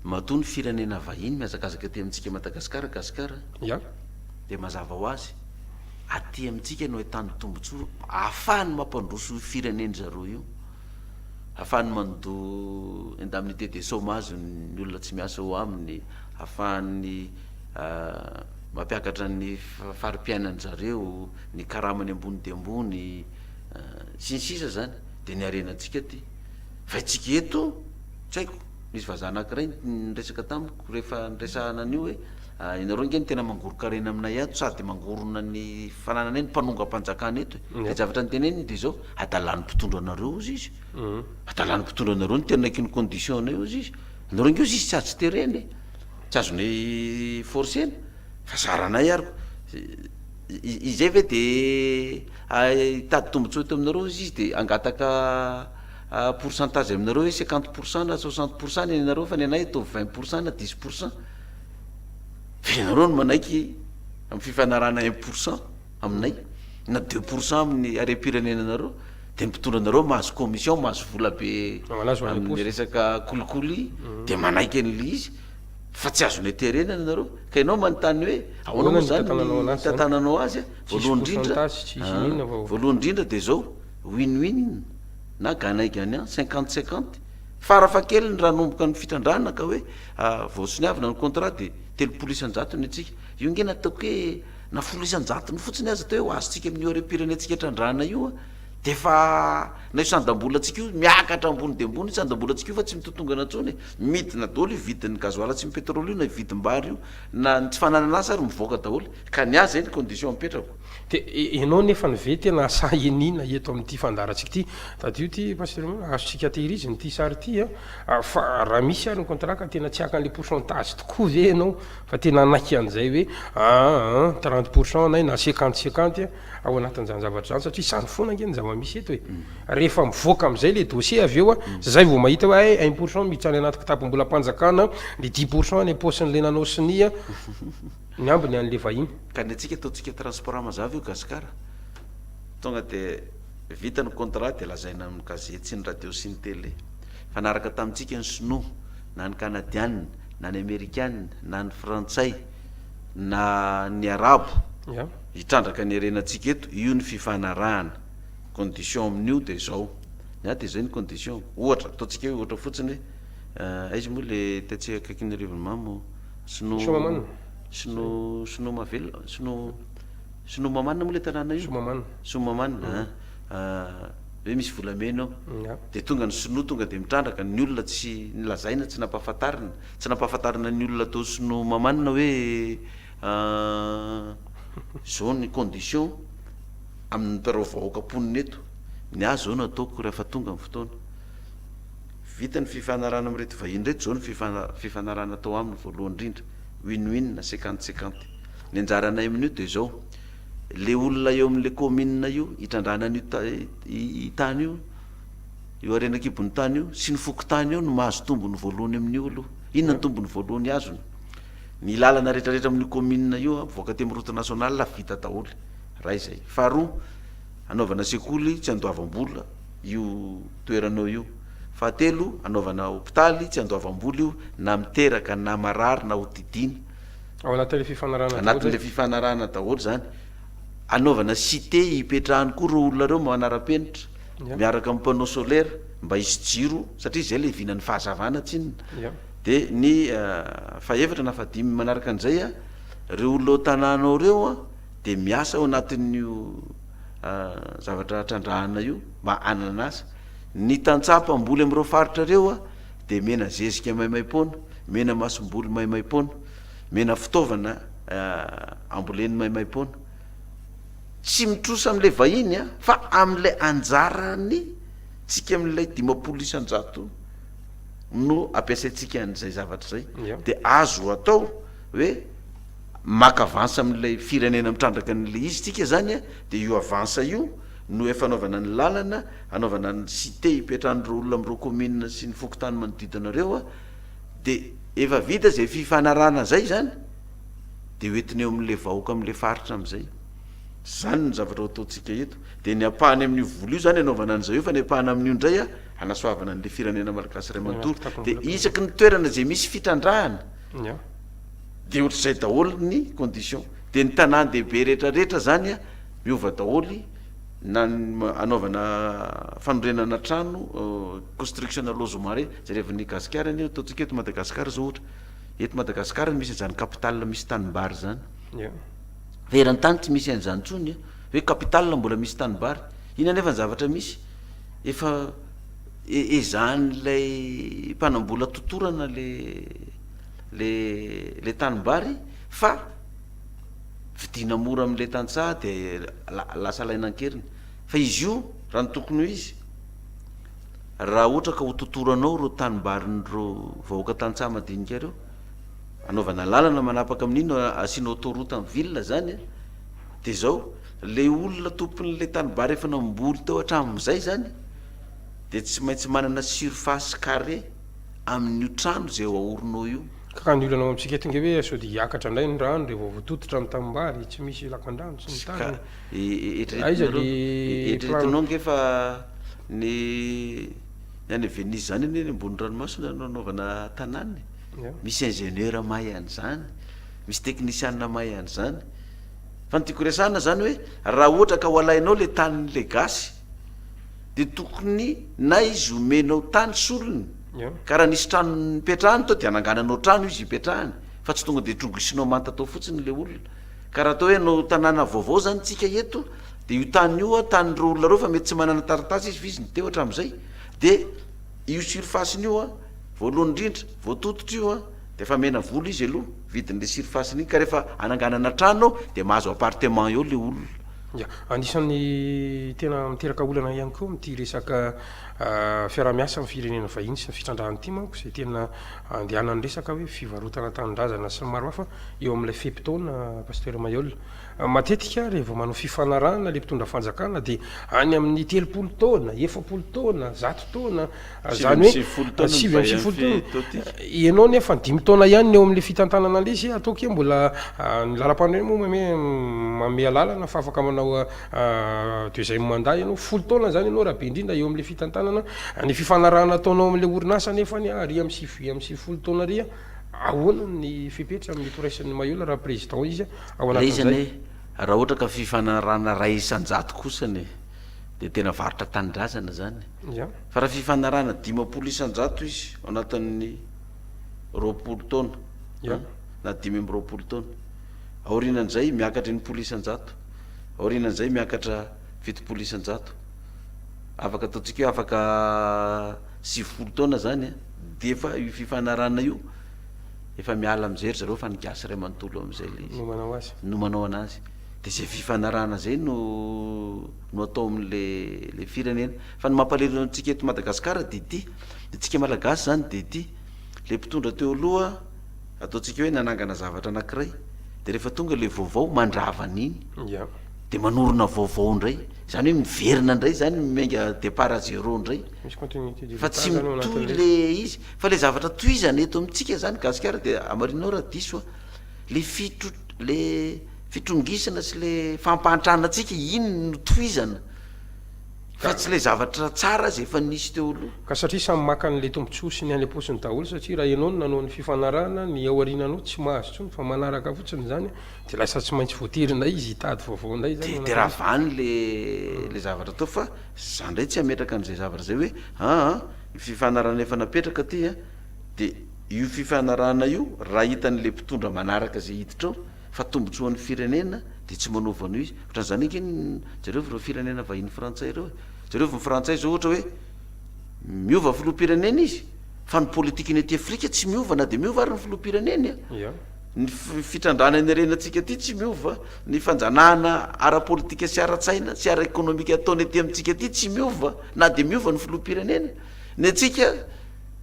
matoa ny firenena vahiny mihazakazaka ety amintsika Madagasikara, Gasikara, dia mazava ho azy, Aty amintsika no ahitany tombontsoa, ahafahany mampandroso io fireneny zareo io, ahafahany mando indemnité de chômage ny olona tsy miasa ao aminy, ahafahany mampiakatra ny fari-piainany zareo, ny karamany ambony dia ambony, sy ny sisa zany, de ny harenantsika aty, fa itsika eto, tsy haiko, nisy vazaha anakiray niresaka tamiko rehefa niresahana an'io hoe, Ah ianareo ange no tena mangoron-karena aminay ato sady mangorona ny fanananay ny mpanongam-panjakana eto e! Dia zavatra noteneniny dia izao, adalàn'ny mpitondra anareo hozy izy, adalàn'ny mpitondra anareo ny tena ky ny condition-nay hozy izy, ianareo ange hozy izy tsy azo terena e! tsy azonay forcer-na fa zaranay ary koa, izay ve dia hitady tombotsoa eto aminareo hozy izy dia hangataka pourcentage aminareo hoe cinquante pourcent na soixante pourcent ny anareo fa ny anay ataovy vingt pourcent na dix pourcent. Fa ianareo no manaiky amin'ny fifanarahana un pour cent aminay na deux pour cent amin'ny harem-pirenenanareo dia ny mpitondra anareo mahazo commission mahazo vola be amin'ny resaka kolikoly dia manaiky an'le izy fa tsy azonay terenana ianareo ka ianao manontany hoe ahoana moa zany ny hitantananao azy a voalohany indrindra voalohany indrindra dia zao win win na gagnant gagnant cinquante cinquante Farafahakeliny raha hanomboka ny fitrandrahana ka hoe vaosoniavina ny contrat dia telopolo isan-jato ny antsika. Io ange nataoko hoe na folo isan-jatony fotsiny aza atao hoe ho azontsika amin'io harem-pirenentsika trandrahana io dia efa na io sandam-bolantsika io miakatra ambony dia ambony io sandam-bolantsika io fa tsy mitotongana intsony e! Midina daholo io vidin'ny gasoil sy ny pétrole io na vidin'bary io na ny tsy fananana asa ary mivoaka daholo ka ny ahy izay ny condition apetrako. Dia ianao nefa ny ve tena sahy iniana eto amin'ity fandaharantsika ity? Tadidio ity Pasteur Mena, azontsika tehirizina ity sary ity an, ah, fa raha misy ary ny contrat tena tsy hakan'ilay pourcentage tokoa ve ianao fa tena hanaiky an'izay hoe ah, ah, trente pour cent anay na cinquante cinquante an, ao anatin'izany zavatra izany satria izany foana ange ny zava-misy eto e. Rehefa mivoaka amin'izay ilay dossier avy eo an, mm. zay vao mahita hoe eh, un pour cent miditra any anaty kitapom-bolam-panjakana, ny dix pour cent any am-paosin'ilay nanao sonia an, Ny ambiny anle vahiny. Ka ny antsika ataontsika transport mazava io Gasikara. Tonga de vita ny contrat de lazaina amin'ny gazety sy ny radio sy ny télé. Mifanaraka tamintsika ny sinoa, na ny kanadianina, na ny amerikana, na ny frantsay, na ny arabo. Hitrandraka ny harenantsika eto. Io ny fifanarahana. Condition amin'io de izao. Ny ahy de izay ny condition. Ohatra, ataontsika hoe ohatra fotsiny hoe aiza moa le tetsy akaikin'ny Rivonomamo? Sinoa Sinoa Sinoa mahavelona Sinoa Sinoa Mamanina moa ilay tanàna io? Soamamanina Soamamanina an! Hoe misy volamena ao Nga. Dia tonga ny Sinoa tonga dia mitrandraka, ny olona tsy nolazaina, tsy nampahafantarina, tsy nampahafantarina ny olona tao Sinoa Mamanina hoe izao ny condition amin'ny mpiarao vahoaka mponina eto, ny ahy izao no ataoko rehefa tonga ny fotoana. Vita ny fifanarahana amin'ireto vahiny ireto izao ny fifanarahana atao aminy voalohany indrindra, win win na cinquante cinquante. Ny anjaranay amin'io dia izao, ilay olona eo amin'ilay kaominina io hitrandrahana an'io tany io, io harena an-kibon'ny tany io sy ny fokontany eo no mahazo tombony voalohany amin'io aloha. Inona ny tombony voalohany azony? Ny lalana rehetrarehetra amin'io kaominina io mivoaka aty amin'ny route nationale vita daholo, iray izay. Faharoa, hanaovana sekoly tsy andoavam-bola. io toeranao io. Fahatelo, anaovana hopitaly tsy andoavam-bola io na miteraka na marary na hodidiana. Ao anatin'ilay fifanarahana daholo zay? Anatin'ilay fifanarahana daholo izany. Anaovana site hipetrahany koa ireo olona ireo manara-penitra miaraka amin'ny panneau solaire mba hisy jiro satria izay ilay vinan'ny fahazavana tsinona. Dia ny fahefatra na fahadimy manaraka an'izay, ireo olona ao an-tanànao ireo, dia miasa ao anatin'io zavatra trandrahana io mba hanana asa. Ny tantsaha mpamboly amin'ireo faritra ireo dia omena zezika maimaim-poana, omena masomboly maimaim-poana, omena fitaovana amboleny maimaim-poana. Tsy mitrosa amin'ilay vahiny fa amin'ilay anjarany tsika amin'ilay dimampolo isan-jato no ampiasaintsika an'izay zavatra izay dia azo atao hoe. maka avance amin'ilay firenena mitrandraka an'ilay izy tsika izany a, dia io avance io no efa anaovana ny lalana, anaovana ny site hipetrahan'ireo olona amin'ireo commune sy ny fokontany manodidina ireo a, dia efa vita izay fifanarahana izay izany dia hoentina eo amin'ilay vahoaka amin'ilay faritra amin'izay. Izany no zavatra ho ataontsika eto. Dia ny ampahany amin'io vola io izany anaovana an'izay io fa ny ampahany amin'io indray a, hanasoavana an'ilay firenena malagasy iray manontolo. Dia isaky ny toerana izay misy fitrandrahana, Dia ohatr'izay daholo ny condition. Dia ny tanàn-dehibe rehetra rehetra zany a, miova daholo na ny anaovana fanorenana trano, construction na lozes marais, jerevan'ny gasikara anie, ataontsika eto Madagascar zao ohatra, eto Madagascar no misy an'izany capital misy tanimbary zany, fa eran-tany tsy misy an'izany intsony a, hoe capital mbola misy tanimbary, iny anefa ny zavatra misy, efa ezahan'ilay mpanambola totorana le. le le tanimbary fa vidiana mora amle tantsaha de lasa alaina ankeriny fa izy io raha ny tokony ho izy raha ohatra ka ho totoranao ireo tanimbarin'ireo vahoaka tantsaha madinika ireo anaovana lalana manapaka amin'iny asiana autoroute en ville zany de zao le olona tompon'le tanibary efa namboly teo hatramin'izay zany de tsy maintsy manana surface carré amin'io trano izay eo Aornô io. Ka raha ny olana ao amintsika eto nge hoe sao dia hiakatra indray ny rano revo votototra ny tanimbary, tsy misy lakandrano sy ny Ka tariny. Aiza eritreretinareo, dia eritreretinao nge fa ny ny any Venise izany anie ny ambony ranomasina no anaovana tanàna e! Ia. Misy ingénieur mahay an'izany, misy teknisiana mahay an'izany. Fa ny tiako resahana izany hoe raha ohatra ka ho alainao ilay tanin'ilay gasy, dia tokony na izy omenao tany solony ka raha nisy trano nipetrahany tao dia anangananao trano izy hipetrahany fa tsy tonga dia trogisinao manta tao fotsiny ilay olona ka raha atao hoe hanao tanàna vaovao zany tsika eto dia io tany io a tan'ireo olona ireo fa mety tsy manana taratasy izy fa izy ny teo hatramin'izay dia io surface-ny io a voalohany indrindra vao tototra io a dia efa mena vola izy aloha vidin'ilay surface-ny iny ka rehefa ananganana trano ao dia mahazo appartement eo ilay olona Ya, anisan'ny tena miteraka olana ihany koa amin'ity resaka fiaraha-miasa amin'ny firenena vahiny sy ny fitrandrahana ity manko izay tena andehanan'ny resaka hoe fivarotana tanindrazana sy ny maro hafa eo amin'ilay fe-potoana Pasteur Mailhol. Matetika rehefa vao manao fifanarahana ilay mpitondra fanjakana dia any amin'ny telopolo taona, efapolo taona, zato taona, Zany hoe sivy amby sivifolo taona. Ianao anie efa dimy taona ihany ny eo amin'ilay fitantanana an'ilay izy, ataoko hoe mbola ny lalam-panorenana moa mame manome alalana fa afaka manao deuxième mandat ianao. Folo taona zany ianao raha be indrindra eo amin'ilay fitantanana. Ny fifanarahana ataonao amin'ilay orinasa anefa anie ary amin'ny sivy amby sivifolo taona ary ahoana ny fepetra amin'ny firaisan'ny Mayola raha président izy ao anatin'izay? Ilay izy anie raha ohatra ka fifanarahana iray isan-jato kosa anie dia tena varotra tanindrazana zany. Fa raha fifanarahana dimampolo isan-jato izy ao anatin'ny roapolo taona, Eo. an, na dimy amby roapolo taona. Aorianan'izay, miakatra enimpolo isan-jato. Aorianan'izay, miakatra fitopolo isan-jato. Afaka ataontsika hoe afaka sivifolo taona izany, an, dia efa io fifanarahana io, efa miala amin'izay ry zareo fa ny gasy iray manontolo eo amin'izay ilay izy. No manao azy. No manao an'azy. Dia izay fifanarahana izay no no atao amin'ilay ilay firenena. Fa ny mampalahelo antsika eto Madagascar dia ity, ny antsika Malagasy izany dia ity, ilay mpitondra teo aloha ataontsika hoe nanangana zavatra anankiray, dia rehefa tonga ilay vaovao mandrava an'iny, dia manorina vaovao indray, izany hoe miverina indray izany, miainga départ à zéro indray, fa tsy mitohy ilay izy, fa ilay zavatra tohizana eto amintsika izany gasikara dia hamarinao raha diso aho, ilay fitro- ilay fitrongisana sy ilay fampahantrana antsika iny no tohizana, Raha tsy ilay zavatra tsara aza efa nisy teo aloha. Ka satria samy maka an'ilay tombotsoa sy ny any am-potsiny daholo satria raha ianao no nanao ny fifanarahana ny ao aoriananao tsy mahazo intsony fa manaraka fotsiny izany dia lasa tsy maintsy voatery indray izy hitady vaovao indray izany manao izany. Dia ravany le le zavatra teo fa za indray tsy hametraka an'izay zavatra izay hoe aa ny fifanarahana efa napetraka aty a dia io fifanarahana io raha hitan'ilay mpitondra manaraka izay hiditra ao fa tombotsoan'ny firenena dia tsy manaova an'io izy, otran'izany ange ny jereo ireo firenena vahiny frantsay ireo e, jereo ny frantsay izao ohatra hoe miova filoham-pirenena izy fa ny politikany aty afrika tsy miova na dia miova ary ny filoham-pireneny a, ny fitrandrahana ny harena antsika aty tsy miova, ny fanjanahana ara-politika sy ara-tsaina sy ara-ekonomika ataony aty amintsika aty tsy miova na dia miova ny filoham-pirenena, ny antsika.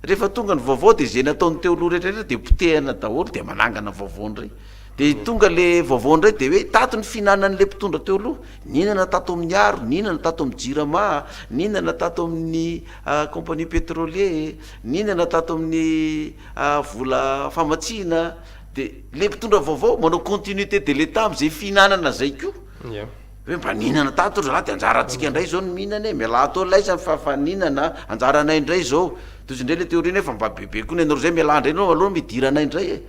Rehefa tonga ny vaovao dia izay nataon'ny teo aloha rehetra rehetra dia potehana daholo dia manangana vaovao indray. Dia tonga le vaovao indray dia hoe tato ny fihinanan'le mpitondra teo aloha, nihinana tato amin'ny aro, nihinana tato amin'ny jirama, nihinana tato amin'ny compagnie pétrolier, nihinana tato amin'ny vola famatsiana, dia le mpitondra vaovao manao continuité de l'Etat amin'izay fihinanana izay koa. Hoe mba nihinana tato ry zalahy de anjarantsika indray izao ny mihinana e, mialà ato ho laizany fa fa nihinana a, anjaranay indray izao, tohizo indray le théorie-nao efa mba bebe koa ny anareo zay, mialà indray aloha aloha midiranay indray e.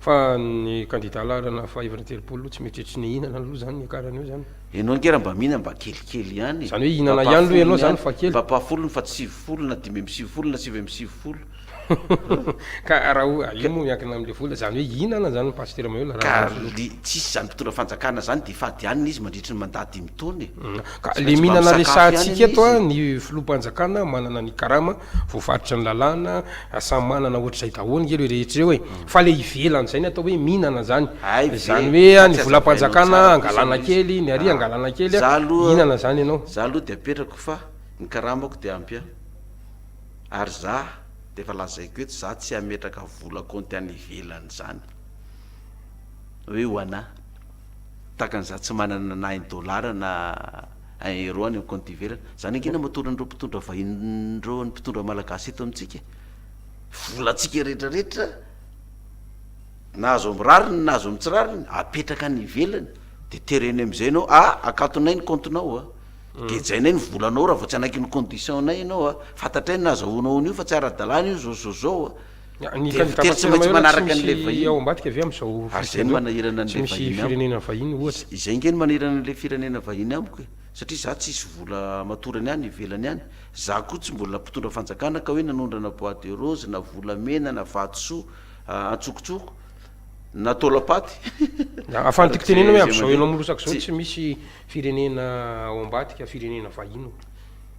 Fa ny kandida laharana fahefatra telopolo tsy mety tsy nihinana aloha zany niakarana eo zany. Enao ange raha mba mihinana mba kelikely ihany e, Zany hoe mba hihinana ihany aloha ampahafolony ianao zany ihany, fa kely. mba ampahafolony fa tsy sivifolo na dimy amby sivifolo na sivy amby sivifolo. Ka raha o, io moa miankina amin'ilay vola, izany hoe hihinana izany ny Pasitera Maheula raha Ka miantso le tsy hisy izany mpitondra fanjakana zany dia fady ihany le izy mandritry ny mandat dimy taona e. Ka Tsy le maintsy mba mihinana misakafo ihany resahantsika anie eto izy an, e. ny Filoham-panjakana manana ny karama, voafaritry ny lalàna, samy manana ohatr'izay daholo nge ireo rehetra ireo e. Fa le ivelan'izay ny atao hoe mihinana izany, Hay ve, izany hoe ka an, ny tsy azavainao Volam-panjakana tsara kosa angalana le izy. kely, ny Ari Ah, angalana kely an, za aloha, mihinana izany ianao. za aloha dia apetrako fa ny karamako dia ampy an. Ary za dia efa lazaiko eto za tsy hametraka vola kaonty any ivelany zany hoe ho anà. Tahaka ny za tsy manana na un dollar na un euro any amin'ny kaonty ivelany. Zany ange no matory an'ireo mpitondra vahiny ireo ny mpitondra malagasy eto amintsika. Volantsika rehetra rehetra na azo amin'ny rariny na azo amin'ny tsy rariny apetraka any ivelany dia tereny amin'izay ianao, ah akatonay ny kaontinao a. Gejainay ny volanao raha vao tsy hanaiky ny condition-nay ianao a! Fantatray ny nahazahoanao an'io fa tsy ara-dalàna io izao izao izao a! Ny Dia kandidà votery tsy maintsy Rajoelina tsy manaraka an'ilay misy ao vahiny. ambadika ve amin'izao Ary firy izay no tandreo? manahirana Tsy an'ilay misy vahiny amiko. firenena vahiny ohatra. Izay ange no manahirana an'ilay firenena vahiny amiko e! Satria izaho tsy hisy vola hamatorany any ivelany any. Izaho koa tsy mbola mpitondra fanjakana ka hoe nanondrana bois de rose na volamena na vatosoa a antsokotsoko na taolam-paty. Ahafahan'ny tiko Araka tenenina izay hoe izay amin'izao mandeha. ianao mirosaka izao Tsy. tsy misy Firenena ao ambadika firenena vahiny o.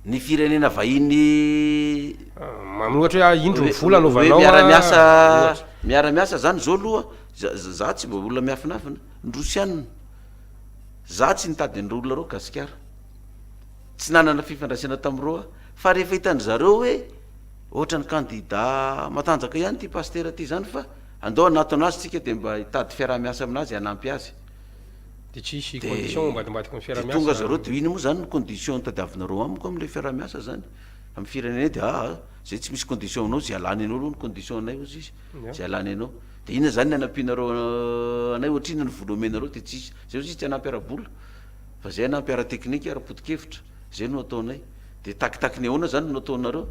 Ny firenena vahiny. Mamy ohatra hoe ah indro ny vola anaovanao ah miara-miasa ohatra. Miara-miasa zany zao aloha za za tsy mba olona miafinafina ny rosianina za tsy nitady an'ireo olona reo gasikara tsy nanana fifandraisana tamin'ireo aho fa rehefa hitan'ny zareo hoe ohatran'ny kandida matanjaka ihany ity pasitera ity zany fa andao hanatona azy tsika de mba hitady fiaraha-miasa aminazy hanampy azy Dia tonga zareo dia ino moa zany ny condition tadiavinareo amiko amle fiarahamiasa zany am firenena dia aa zay tsy misy condition anao zay alany anao aloha no condition anay ozy izy zay alany anao dia inona zany ny anampianareo anay ohatrinona ny vola omenareo dia tsisy zay ozy izy tsy hanampy ara-bola fa zay hanampy ara-teknika ara-potokevitra zay no ataonay dia takitaky ny ahoana zany no ataonareo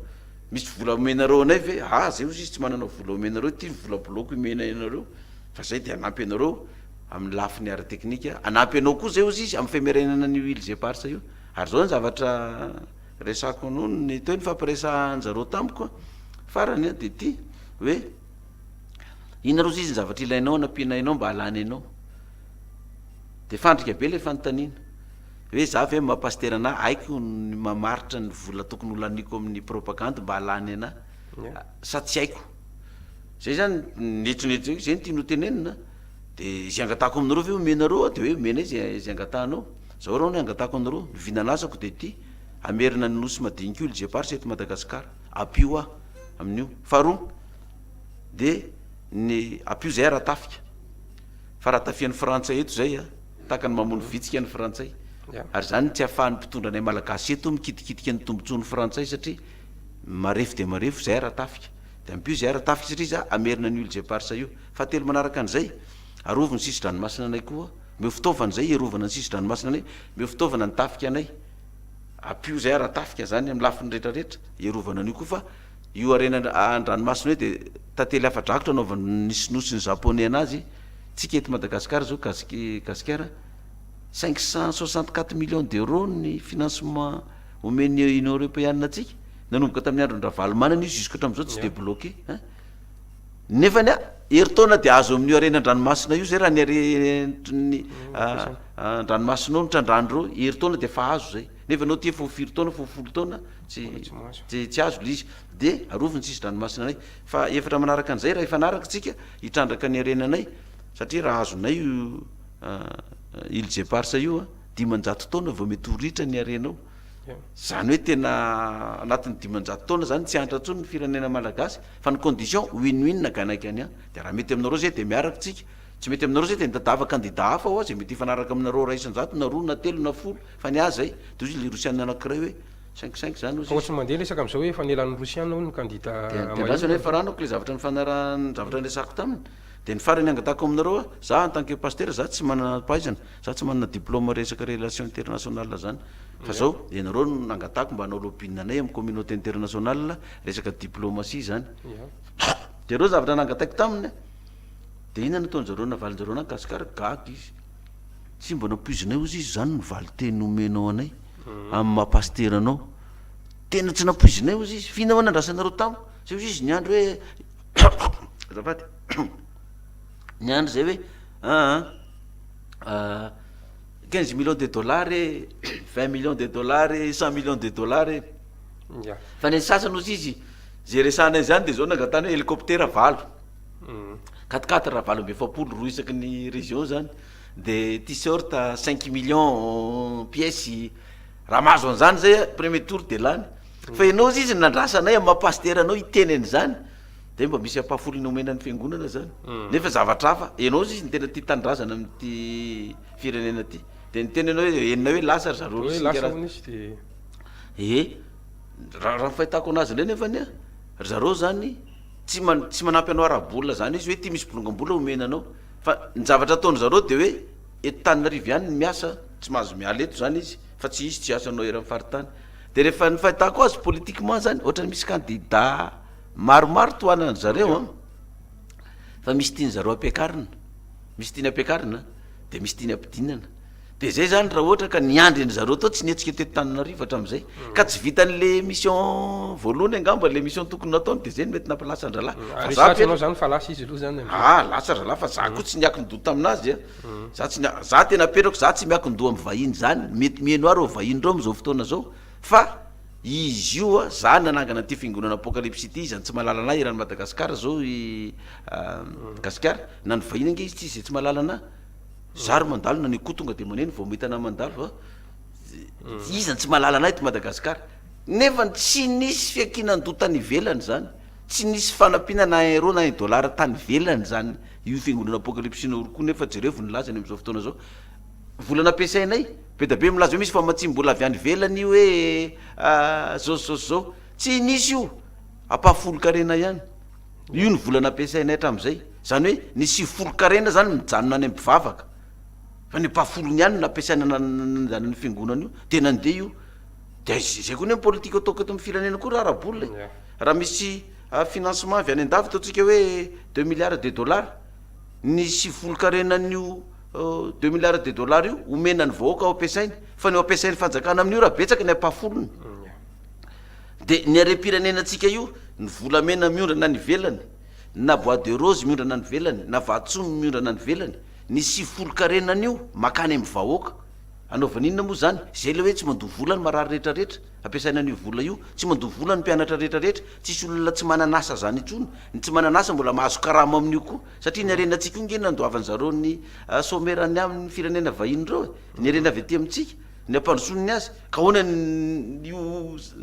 misy vola omenareo anay ve aa zay ozy izy tsy manana vola omenareo ty ny vola bloco imenay anareo fa zay dia hanampy anareo amin'ny lafiny ara-teknika, hanampy anao koa zay ozy izy amin'ny femerenana an'io huiles éparses io, ary zao ny zavatra resako noho ny teo nifampiresahan-jareo tamiko an, farany an dia ity hoe, inona rozy izy ny zavatra ilainao hanampiana enao mba hahalany anao, dia fandrika be ilay fanontaniana, hoe za ve maha pasitera anah, haiko ny mamaritra ny vola tokony ho laniako amin'ny propagandy mba hahalany anah sa tsy haiko, zay zany ny eritreritro, zay no tiany ho tenenina an. De zay angatahako aminareo ve omenareo aho de hoe omena izy zay angatahanao, zao raha ny angatahako anareo, ny vina lasako de ty, hamerina ny nosy madinika io lje pars eto Madagascar, ampio ahy amin'io, faharoa de ny ampio zay raha tafika, fa raha tafian'ny frantsay eto zay a, tahaka ny mamono vitsika ny frantsay, ary zany tsy ahafahan'ny mpitondra anay malagasy eto mikitikitika ny tombotsoan'ny frantsay satria marefo dia marefo zay raha tafika, de ampio zay raha tafika satria za hamerina an'io lje pars io, Fahatelo manaraka an'izay, arovy ny sisin-dranomasina anay koa, omeo fitaovana izay hiarovana ny sisin-dranomasina anay, omeo fitaovana ny tafika anay, ampio izay ara-tafika izany amin'ny lafiny rehetra rehetra hiarovana an'io koa fa io harena an-dranomasina io dia tantely afa-drakotra anaovan'ny sinoa sy ny japoney an'azy, tsika eto Madagascar izao gasik gasikara cinq cent soixante quatre millions d'euros ny financement omen'ny union europeana antsika, nanomboka tamin'ny andron'i ravalomanana io jusqu'à hatramin'izao tsy débloqué, ein. Nefa ny ahy, herintaona dia azo amin'io harena an-dranomasina io izay raha ny haren'ny an-dranomasina io mitrandrahana ireo, herintaona dia efa azo izay. Nefa ianao aty efa ho firy taona, efa ho folo taona, tsy tsy tsy azo ilay izy. Dia arovy ny sisin-dranomasinanay. Fa efatra manaraka an'izay raha hifanaraka isika hitrandraka ny harenanay, satria raha azonay io an îles éparses io an, dimanjato taona vao mety ho ritra ny harenao. Zany hoe tena anatin'ny dimanjato taona zany tsy antra tsony ny firenena malagasy fa ny condition win win na gagnant gagnant de raha mety aminareo zay de miaraka tsika tsy mety aminareo zay de mitadiava candidat hafa oa zay mety hifanaraka aminareo ray isanjato na roa na telo na folo fa ny ahy zay de ozy le rosiana anakiray hoe cinq cinq zany ozy izy de andrasana hoe faranako le zavatra nifanarahan zavatra niresahako taminy de ny farany angatahako aminareo oa za en tant que pasteur za tsy manana pahaizana Za tsy manana diploma resaka relation internationale zany fa zao ianareo no nangatahako mba hanao lobbying anay amin'ny communauté internationale resaka diplomatie zany de reo zavatra nangataiko taminy de inona no ataonjareo navalinjareo anah gasikara gaga izy tsy mba nampoizinay ozy izy zany ny valiteny omenao anay amin'ny maha pasitera anao tena tsy nampoizinay ozy izy f'inona moa nandrasanareo tamiko zay ozy izy niandry hoe azafady Niandry zay hoe aa aa quinze millions de dollars e vingt millions de dollars e cent millions de dollars e Ya. fa ny sasany ozy izy zay resahanay zany de zao nangatahany hoe helicoptera valo Mhm. quatre quatre valo amby efapolo roa isaky ny region zany de t-shirt cinq millions pièces raha mahazo an'zany zay a premier tour de lany fa ianao ozy izy nandrasanay amy maha pasitera anao hiteny an'zany de mba misy ampahafolo nomena ny fiangonana zany nefa zavatra hafa ianao zisy ny tena tia tanindrazana amin'ity firenena ity de ny tena ianao hoe enina hoe lasa ry zareo e raha ny fahitako anazy indray nefa ny a ry zareo zany tsy man- tsy manampy anao ara-bola zany izy hoe ity misy bolongam-bola omena anao fa ny zavatra ataony zareo de hoe eto taninarivo ihany ny miasa tsy mahazo miala eto zany izy fa tsy hisy tsy asanao eran'ny faritany de rehefa ny fahitako azy politiquement zany ohatrany misy candidat Maromaro tohanan'ny zareo an, fa misy tiany zareo ampiakarina, misy tiany ampiakarina an, de misy tiany ampidinana, de zay zany raha ohatra ka niandry an'i zareo tao tsy nihetsika teto Tananarivo hatramin'izay, ka tsy vitan'le mission voalohany angamba le mission tokony nataony de zay no mety nampalasa an-drahalahy, fa za Resahiko Petra, anao zany fa lasa izy aloha zany amin'izay. ah lasa rahalahy fa za koa tsy niakin-doha taminazy an, za tsy nia- za tena apetrako za tsy miakin-doha amin'ny vahiny zany, mety miheno ahy reo vahiny reo amin'izao fotoana zao fa, Izy io a, zany nanangana an'ity fiangonana apocalypse ity, izy zany tsy mahalala anah eran'i Madagascar zao i Gasikara, na ny vahiny ange izy tsisy zay tsy mahalala anah, zah ry mandalo na ny akoho tonga de maneno vao mahita anah mandalo a, izy zany tsy mahalala anah eto Madagascar, nefa tsy nisy fiankinan-doha tany ivelany zany, tsy nisy fanampiana na un euro na un dollar tany ivelany zany io fiangonana apocalypse-nao io koa, nefa jereo vao nilaza any am'zao fotoana zao, Vola nampiasainay. Bedabe milaza hoe misy famatsiam-bola avy any ivelany hoe zao sy zao sy zao. Tsy nisy io, ampahafolon-karena ihany. Io ny vola nampiasainay hatramin'izay. Izany hoe ny sivifolon-karena izany mijanona any am-pivavaka. Fa ny ampahafolony ihany no nampiasaina nanandrana io fiangonana io. Dia nandeha io. Dia izay koa anie ny politika ataoko eto amin'ny firenena koa raha ara-bola e. Raha misy financement avy any an-davitra, ataontsika hoe deux milliards de dollars, ny sivifolon-karenan'io. Deux milliards de dollars io omena ny vahoaka ho ampiasainy fa ny ho ampiasain'ny fanjakana amin'io raha betsaka ny ampahafolony dia ny harem-pirenenantsika io ny volamena miondrana any ivelany na bois de rose miondrana any ivelany na vatosoa miondrana any ivelany ny sivifolo karena an'io makany amin'ny vahoaka anaovana inona moa izany izay ilay hoe tsy mandoa vola ny marary rehetra rehetra ampiasaina an'io vola io tsy mandoa vola ny mpianatra rehetra rehetra tsisy olona tsy manana asa izany intsony ny tsy manana asa mbola mahazo karama amin'io koa Satria ny harena tsy koa nge nandoavan zareo ny somera ny amin ny firenena vahiny ireo e! Ny harena avy aty amintsika ny ampandrosoan ny azy ka ahoana ny io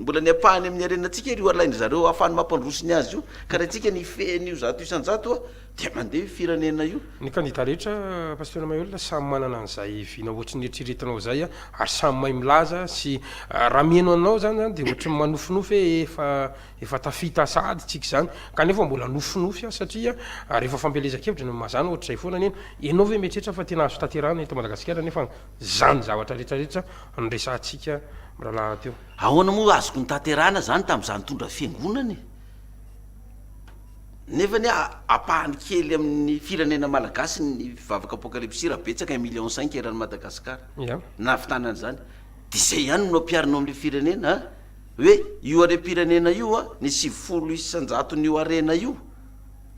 mbola ny ampahany amin ny harena tsika ary io alain zareo ahafahany mampandroso ny azy io ka raha tsika ny hifehy an io zato isan jato a dia mandeha io firenena io. Ny kandida rehetra Pasteur Maheul samy manana an'izay vina ohatry ny eritreretinao izay ary samy mahay milaza sy raha miheno anao izany izany dia ohatry ny manofinofy hoe efa Efa tafita sahady tsika izany, kanefa mbola nofinofy aho satria rehefa fampielezan-kevitra no mazana ohatr'izay foana anie no, ianao ve mieritreritra fa tena azo tanterahana eto Madagasikara nefa izany zavatra rehetra rehetra noresahantsika mirahalahy teo? Ahoana moa azoko notanterahana izany tamin'izaho nitondra fiangonana e? Nefa anie ampahany kely amin'ny firenena malagasy ny mpivavaka apokalypsy raha betsaka un million cinq eran'i Madagasikara, nahavitana an'izany, dia izay ihany no ampiharina ao amin'ilay firenena an! hoe io harem-pirenena io a, ny sivifolo isan-jaton'io harena io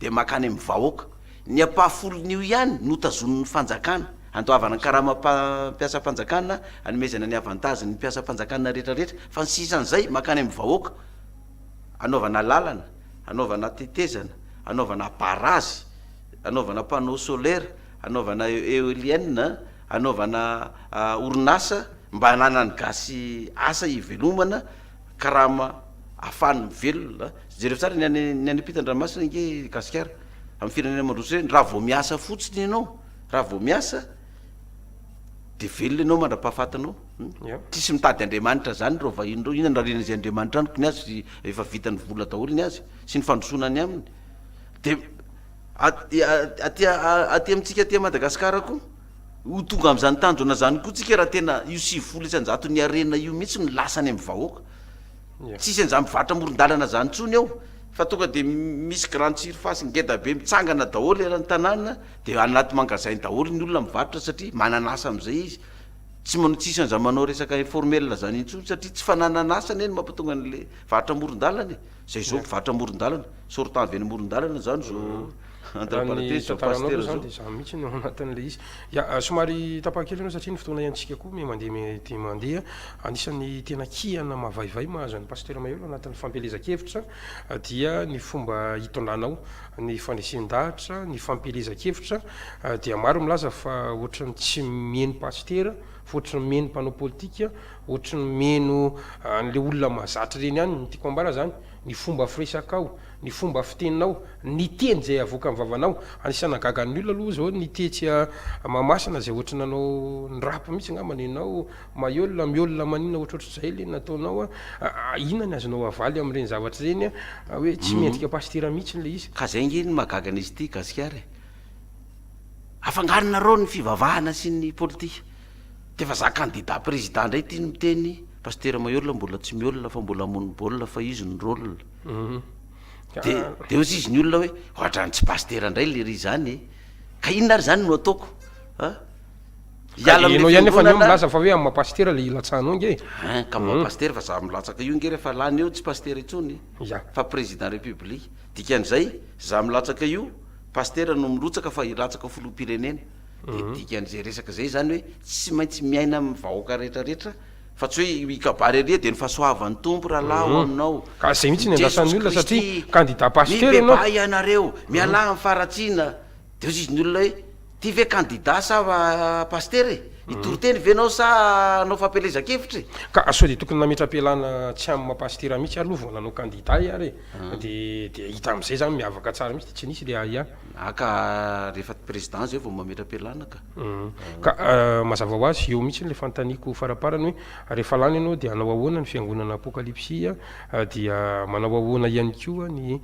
dia mankany amin'ny vahoaka. Ny ampahafolon'io ihany no tazonin'ny fanjakana, handoavana ny karamam-pampiasam-panjakana, hanomezana ny avantages ny mpiasam-panjakana rehetrarehetra, fa ny sisa an'izay mankany amin'ny vahoaka, hanaovana lalana, hanaovana tetezana, hanaovana barazy, hanaovana panneau solaire, hanaovana eoliennes, hanaovana orinasa, Mba hananan'ny gasy asa hivelomana, karama afahany mivelona. Jereo tsara ny any ny any ampitan-dranomasina ange gasikara amin'ny firenena mandroso ireny. Raha vao miasa fotsiny ianao, raha vao miasa dia velona ianao mandra-pahafatinao. Eo. Tsisy mitady Andriamanitra zany reo vahiny reo, inona no rarian'izay Andriamanitra amiko ny azy efa vitany vola daholo ny azy sy ny fandrosoana any aminy. De aty aty aty amintsika aty Madagasikara koa. Ho tonga amin'izany tanjona izany koa tsika raha tena io sivifolo isan-jaton'ny harena io mihitsy no lasa any amin'ny vahoaka. Tsisy an'izany mpivarotra amoron-dalana izany intsony ao fa tonga dia misy grande surface ngeda be mitsangana daholo eran'ny tanàna dia anaty mangazain daholo ny olona mivarotra satria manana asa amin'izay izy. Tsy manao tsisy an'izany manao resaka informel izany intsony satria tsy fananana asa anie no mampatonga an'ilay varotra amoron-dalana e. Zay zao mpivarotra amoron-dalana, sortant avy any amoron-dalana zany zao entre parenthèses zao pasitera zao. Raha ny tantaranao zany de zany mihitsy no anatin'ilay izy. Ya, somary tapaka kely ianao satria ny fotoana iantsika koa miha mandeha miha dia mandeha. Anisan'ny tena kihana mavaivay mahazo an'i Pasitera Mahery ao anatin'ny fampielezan-kevitra dia ny fomba itondranao ny fanesen-dahatra, ny fampielezan-kevitra dia maro milaza fa ohatran'ny tsy mihaino pasitera fa ohatran'ny mihaino mpanao politika Ohatry ny mino an'le olona mahazatra ireny ihany ny tiako ambara zany, ny fomba firesakao, ny fomba fiteninao, ny teny izay avoakan'ny vavanao. Anisan'ny nahagaga ny olona aloha zao ny tetsy Mahamasina izay ohatry ny nanao ny rap mihitsy ngamba ny anao, Mahiolona, Miolona manina ohatrohatry izay le nataonao a, inona ny azonao avaly amin'ireny zavatra ireny a, hoe tsy mendrika pasitera mihitsy le izy. Ka zay nge no mahagaga an'izy ity gasikara e! Afangaronareo ny fivavahana sy ny politika. De efa za candidat président ndray ty no miteny, Pasteur Maheola mbola tsy miolona fa mbola hamono baolina fa izy no rôle. De de ozy izy ny olona hoe ohatrany tsy Pasteur ndray lery zany e! Ka inona ary zany no ataoko a! Hiala amin'ny fiangonana. Enao ihany efa ny eo milaza fa hoe amin'ny maha Pasteur le hilatsahanao nge e! Hein, ka maha Pasteur fa za milatsaka io nge refa lany eo tsy Pasteur intsony Ya. fa Président République. Dikan'izay za milatsaka io Pasteur no mirotsaka fa hilatsaka Filoham-pirenena. Dia dikan'izay resaka izay izany hoe tsy maintsy miaina amin'ny vahoaka rehetra rehetra fa tsy hoe i kabary ery dia ny fahasoavan'ny Tompo rahalahy ho aminao, Ka izay mihitsy ny andrasan'ny olona satria kandida pasitera ianao. Mibebaha ianareo, mialà amin'ny faharatsiana. Dia hozy izy ny olona hoe, ty ve kandida sa pasitera e? Hitoriteny ve ianao sa hanao fampielezan-kevitra e? Ka sao dia tokony nametra-pialana tsy amin'ny maha pasitera mihitsy ary aloha vao nanao kandida ahy ary e? Dia dia hita amin'izay izany miavaka tsara mihitsy dia tsy nisy ilay ahiahy. Ah ka rehefa président izay vao mametra-pialana ka. Ka mazava ho azy, eo mihitsy ilay fanontaniako faramparany hoe rehefa lany ianao dia hanao ahoana ny fiangonana apokalypsy dia manao ahoana ihany koa ny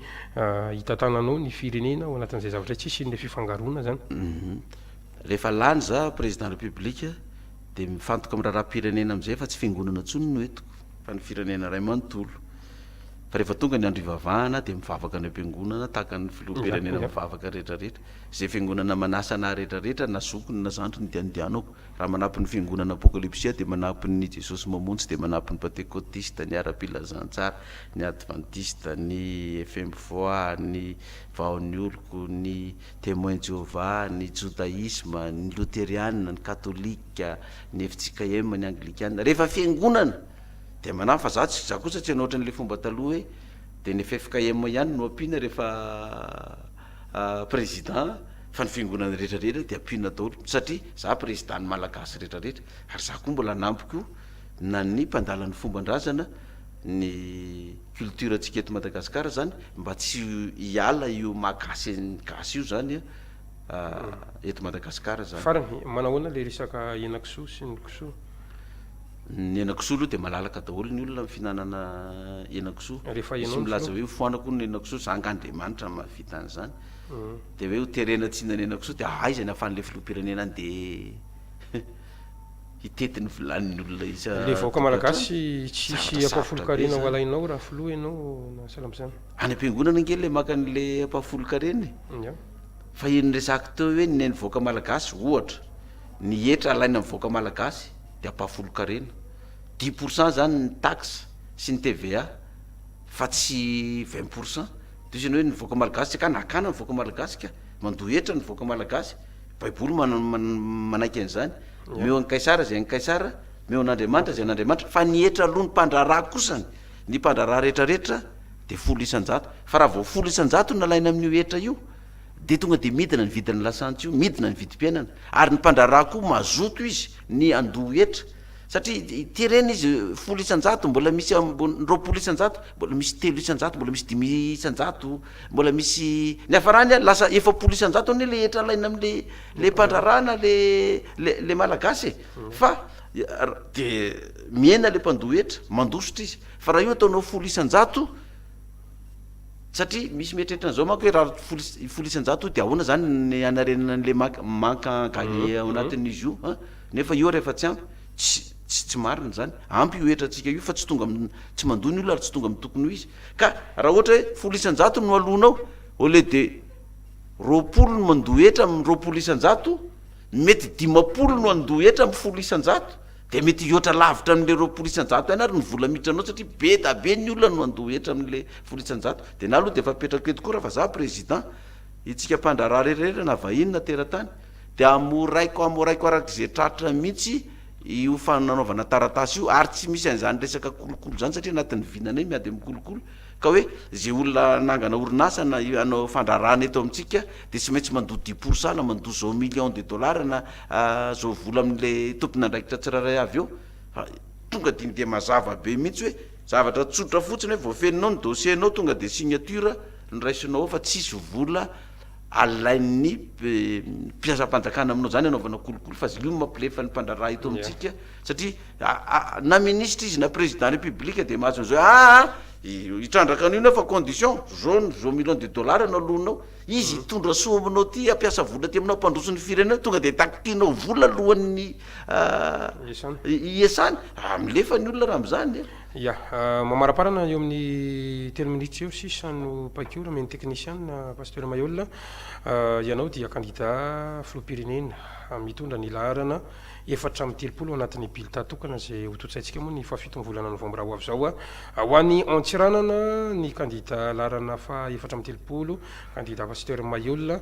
hitantananao ny firenena ao anatin'izay zavatra izay, tsy hisian'ilay fifangaroana izany. Rehefa lany izaho président république dia mifantoka amin'ny raharaham-pirenena amin'izay fa tsy fiangonana intsony no entiko fa ny firenena iray manontolo. Fa rehefa tonga ny andro hivavahana dia mivavaka ny ampiangonana tahaka ny filoham-pirenena mivavaka rehetra rehetra. Izay fiangonana manasa anah rehetra rehetra na zokiny na zandriny dia andianako. Raha manampy ny fiangonana apokalipsy aho dia manampy ny Jesosy Mamonjy dia manampy ny Pantekotista, ny Ara-pilazantsara, ny Advantista, ny Fmvoa, ny Vaon'ny Oloko, ny Temoins Jehovah, ny Jodaisma, ny Loteriana, ny Katolika, ny FJKM, ny Anglikanina. Rehefa fiangonana! Dia manahy fa za tsy za kosa tsy hanao ohatran' ilay fomba taloha hoe dia ny ffkm ihany no ampiana rehefa président fa ny fiangonana rehetra rehetra dia ampiana daholo satria za président ny malagasy rehetra rehetra ary za koa mbola hanampy koa na ny mpandala ny fomban-drazana ny culture antsika eto Madagascar zany mba tsy hiala io maha gasy ny gasy io zany eto Madagascar zany. Farany, manao ahoana ilay resaka henan-kisoa sy ny kisoa? Ny henakisoa aloha dia malalaka daholo ny olona ny fihinanana henakisoa. Rehefa ianao Misy no milaza hoe hofoanako hono ny henakisoa, za angaha Andriamanitra no mahavita an'izany. Dia hoe hoterena tsy hihinana henakisoa, dia aiza ny ahafahan'ilay filoham-pirenena handeha hitety ny vilanin'ny olona isa Ilay vahoaka tokantrano? malagasy tsy hisy Zavatra sarotra be ampahafolon-karena ho izany. alainao raha filoha ianao na sahala amin'izany. Any am-piangonana ange ilay maka an'ilay ampahafolon-karena e! Ya. Fa io niresahako teo hoe ny an'ny vahoaka malagasy, ohatra, ny hetra alaina amin'ny vahoaka malagasy. Dia ampahafolon-karena. Dix pour cent zany ny taxe sy ny TVA fa tsy vingt pour cent. Dia hoy izy ianao hoe ny vahoaka malagasy tsy akana. Akana ny vahoaka malagasy ka! Mandoa hetra ny vahoaka malagasy. Baiboly mana- man- manaiky an'izany. Omeo an'i Kaisara izay an'i Kaisara, omeo an'Andriamanitra izay an'Andriamanitra. Fa ny hetra aloha ny mpandraharaha kosany, ny mpandraharaha rehetrarehetra dia folo isan-jato. Fa raha vao folo isan-jato no nalaina amin'io hetra io, dia tonga dia midina ny vidin'ny lasantsy io, midina ny vidim-piainana, ary ny mpandraharaha koa mazoto izy ny handoa hetra, satria ity ireny izy folo isan-jato mbola misy ambony roapolo isan-jato, mbola misy telo isan-jato, mbola misy dimy isan-jato, mbola misy niafarany ary lasa efapolo isan-jato anie le hetra alaina amle le mpandraharaha na le le le malagasy e, fa dia mihena le mpandoa hetra, mandositra izy, fa raha io ataonao folo isan-jato, Satria misy mieritreritra an'izao manko hoe raha folo is- folo isan-jato dia ahoana izany ny hanarenana an'ilay manque manque à gagner ao anatin'izy io an? Nefa io ary efa tsy ampy. Tsy tsy tsy marina izany. Ampy io hetrantsika io fa tsy tonga amin'ny tsy mandoa ny olona ary tsy tonga amin'ny tokony ho izy. Ka raha ohatra hoe folo isan-jato no aloanao au lieu de roapolo no mandoa hetra amin'ny roapolo isan-jato, ny mety dimampolo no handoa hetra amin'ny folo isan-jato Dia mety hihoatra lavitra amin'ilay roapolo isan-jato ihany ary ny vola miditra anao satria be da be ny olona no andoha hetra amin'ilay folo isan-jato. Dia na aloha dia efa apetrako eto koa raha fa za président. Itsika mpandraharaha rehetra rehetra na vahiny na teratany dia hamoraiko hamoraiko arak'izay tratra mihitsy io fananaovana taratasy io ary tsy misy an'izany resaka kolokolo izany satria anatin'ny vinanay miady amin'ny kolokolo. Ka hoe ze olona nangana orinasa na hanao fandraharahana eto amintsika dia tsy maintsy mandoa dix pour cent na mandoa zao millions de dollars na zao vola amin'le tompon'andraikitra tsirairay avy eo fa tonga dia iny dia mazava be mihitsy hoe zavatra tsotra fotsiny hoe voafeninao ny dossier nao tonga dia signature no raisinao ao fa tsisy vola alain'ny mpiasam-panjakana aminao zany anaovana kolikoly fa zilio no mampilefa ny mpandraharaha eto amintsika Satria aa na ministra izy na président république dia mahazo an'izao aa hitrandraka an'io nao fa condition zao ny zao million de dollars no aloanao izy hitondra soa aminao ty hampiasa vola ty aminao hampandroso ny firenena tonga dia takitinao vola alohan'ny aa hiasany aa milefa ny olona raha amin'izany e. Ya, mamaraparana eo amin'ny telo minutes eo sisa no paik'ora omen'ny teknisiana Pasteur Maihol, ianao dia kandida filoham-pirenena mitondra ny laharana. Efatra amby telopolo ao anatin'ny bilita tokana izay hototsaintsika moa ny fahafitony volana novambra ho avy izao ho an'ny Antsiranana ny kandida laharana faha efatra amby telopolo, kandida Pasteur Mahiol.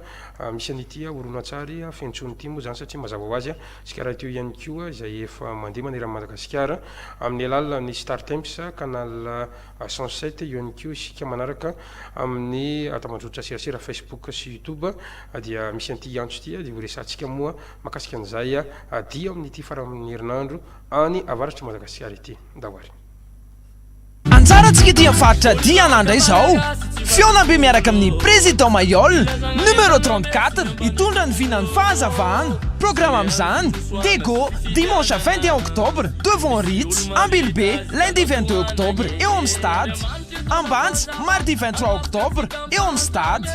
Misy an'ity horonantsary feno tsony ity moa izany satria mazava ho azy isika rahateo ihany koa izay efa mandeha manerana an'i Madagasikara amin'ny alalan'ny Startimes canal cent sept eo ihany koa isika manaraka amin'ny tambajotra serasera Facebook sy YouTube dia misy an'ity antso ity dia horesahantsika moa Mahakasika an'izay dia ao amin'ity faran'ny herinandro any avaratr'i Madagasikara ity. Ndao ary. Anjarantsika ety amin'ny faritra Diana ndray izao. Fihaonambe miaraka amin'ny Président Mayol, numéro trente quatre, hitondra ny vinan'ny fahazavana. Programa amin'izany, Dego, dimanche vingt et un octobre, devant Ritz, Ambilobe, lundi vingt deux octobre, eo amin'ny stade. Ambanja, mardi vingt trois octobre, eo amin'ny stade.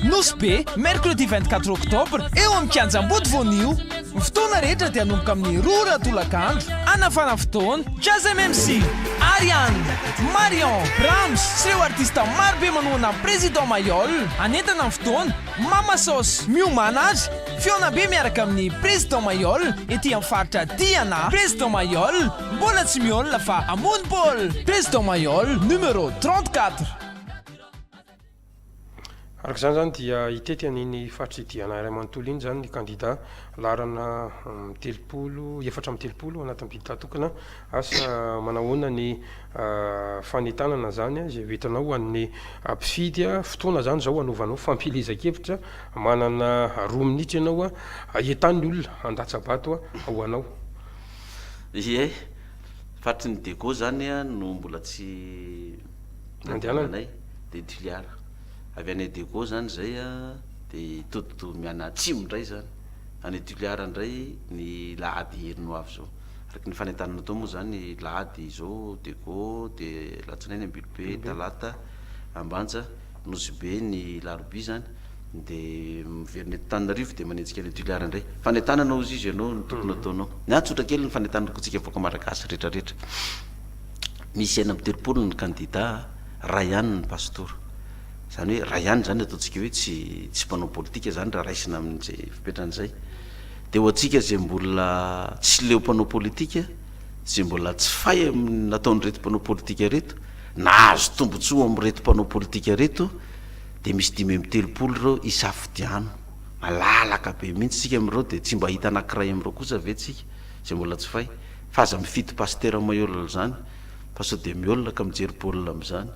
Nosy Be, mercredi vingt quatre octobre, eo amin'ny Kianja Ambody Voanio. Ny fotoana rehetra dia hanomboka amin'ny roa ora tolakandro. Hanafana fotoana, Jazz MMC, Ariane, Marion, Brahms sy ireo artista maro be manohana an'i Président Mayol. Hanentana ny fotoana, Mama Sos, Miomàna ary Fihaona Be miaraka amin'i Président Mayol, ety amin'ny faritra Diana. Président Mayol, mbola tsy mihaona fa hamono baolina! Président Mayol, numéro trente quatre. Araka izany izany dia hitety an'iny faritridihana iray manontolo iny izany ny kandida laharana telopolo, efatra amby telopolo anatin'ny bilaogy tokana. Asa manahoana ny fanentanana izany izay ho entanao ho an'ny mpifidy. Fotoana izany izao hanaovanao fampielezan-kevitra, manana roa minitra ianao hahitan'ny olona handatsa-bato ho anao. Ie, faritry ny Dego izany no mbola tsy. nandehananay dia Toliara, avy any Adego zany izay a, dia todi-doha miana atsimo indray zany, any Toliara indray ny lahady heriny ho avy zao, araka ny fanentanana tao moa zany lahady izao Adego, dia alatsinainy Ambilobe, talata Ambanja. Nosy be ny larobia zany de miverina eto Antananarivo de manenjika any Toliara indray. Fanentanana ozy izy ianao no tokony ataonao. Ny ahy tsotra kely ny fanentanana ko tsika vahoaka Malagasy retra retra. Misy enina amby telopolo ny kandida a, ray ihany ny pastora. Zany hoe ray ihany zany ataontsika hoe tsy tsy mpanao politika zany raha raisina amin'izay fepetra an'izay. De ho antsika izay mbola tsy leo mpanao politika, izay mbola tsy fay amin'ny nataon'ireto mpanao politika ireto, nahazo tombontsoa amin'ireto mpanao politika ireto, dia misy dimy amby telopolo ireo isafidiano, malalaka be mihitsy isika amin'ireo, dia tsy mba hahita anankiray amin'ireo kosa ve tsika izay mbola tsy fay, fa aza mifidy pasitera maiola izany, fa sao dia miôla ka mijery baolina amin'izany,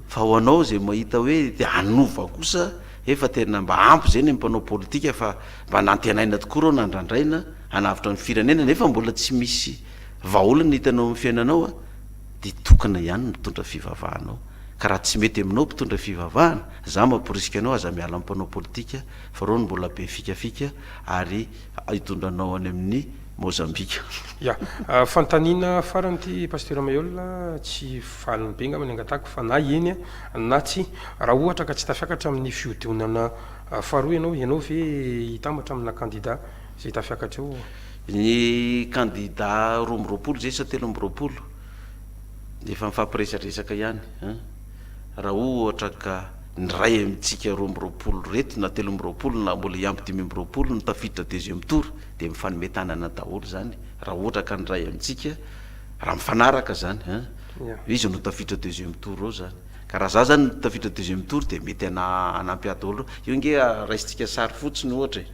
fa ho anao izay mahita hoe te hanova kosa, efa tena mba ampy izay ny amin'ny mpanao politika fa mba nantenaina tokoa ireo nandrandraina, hanavotra ny firenena nefa mbola tsy misy vahaolana hitanao amin'ny fiainanao a, dia tokana ihany ny mitondra fivavahanao ka raha tsy mety aminao mpitondra fivavahana, za mamporisika anao aza miala amin'ny mpanao politika fa reo no mbola be fikafika ary hitondra anao any amin'ny Mozambika. Ya, fanontaniana farany ity Pasteur Mailhol, tsy valiny be ngamba ny angatahako fa na eny na tsia, raha ohatra ka tsy tafiakatra amin'ny fihodionana faharoa ianao, ianao ve hitambatra amina kandida? Izay tafiakatr'io. Ny kandida roa amby roapolo izay sa telo amby roapolo dia efa mifampiresadresaka ihany an! Raha ohatra ka ny iray amintsika roa amby roapolo ireto na telo amby roapolo na mbola hiampy dimy amby roapolo no tafiditra deuxième tour dia mifanome tanana daholo izany raha ohatra ka ny iray amintsika raha mifanaraka izany an! Hoe iza no tafiditra deuxième tour ao izany. Ka raha izaho izany no tafiditra deuxième tour dia mety hanampy ahy daholo. Io ange raisintsika sary fotsiny ohatra e!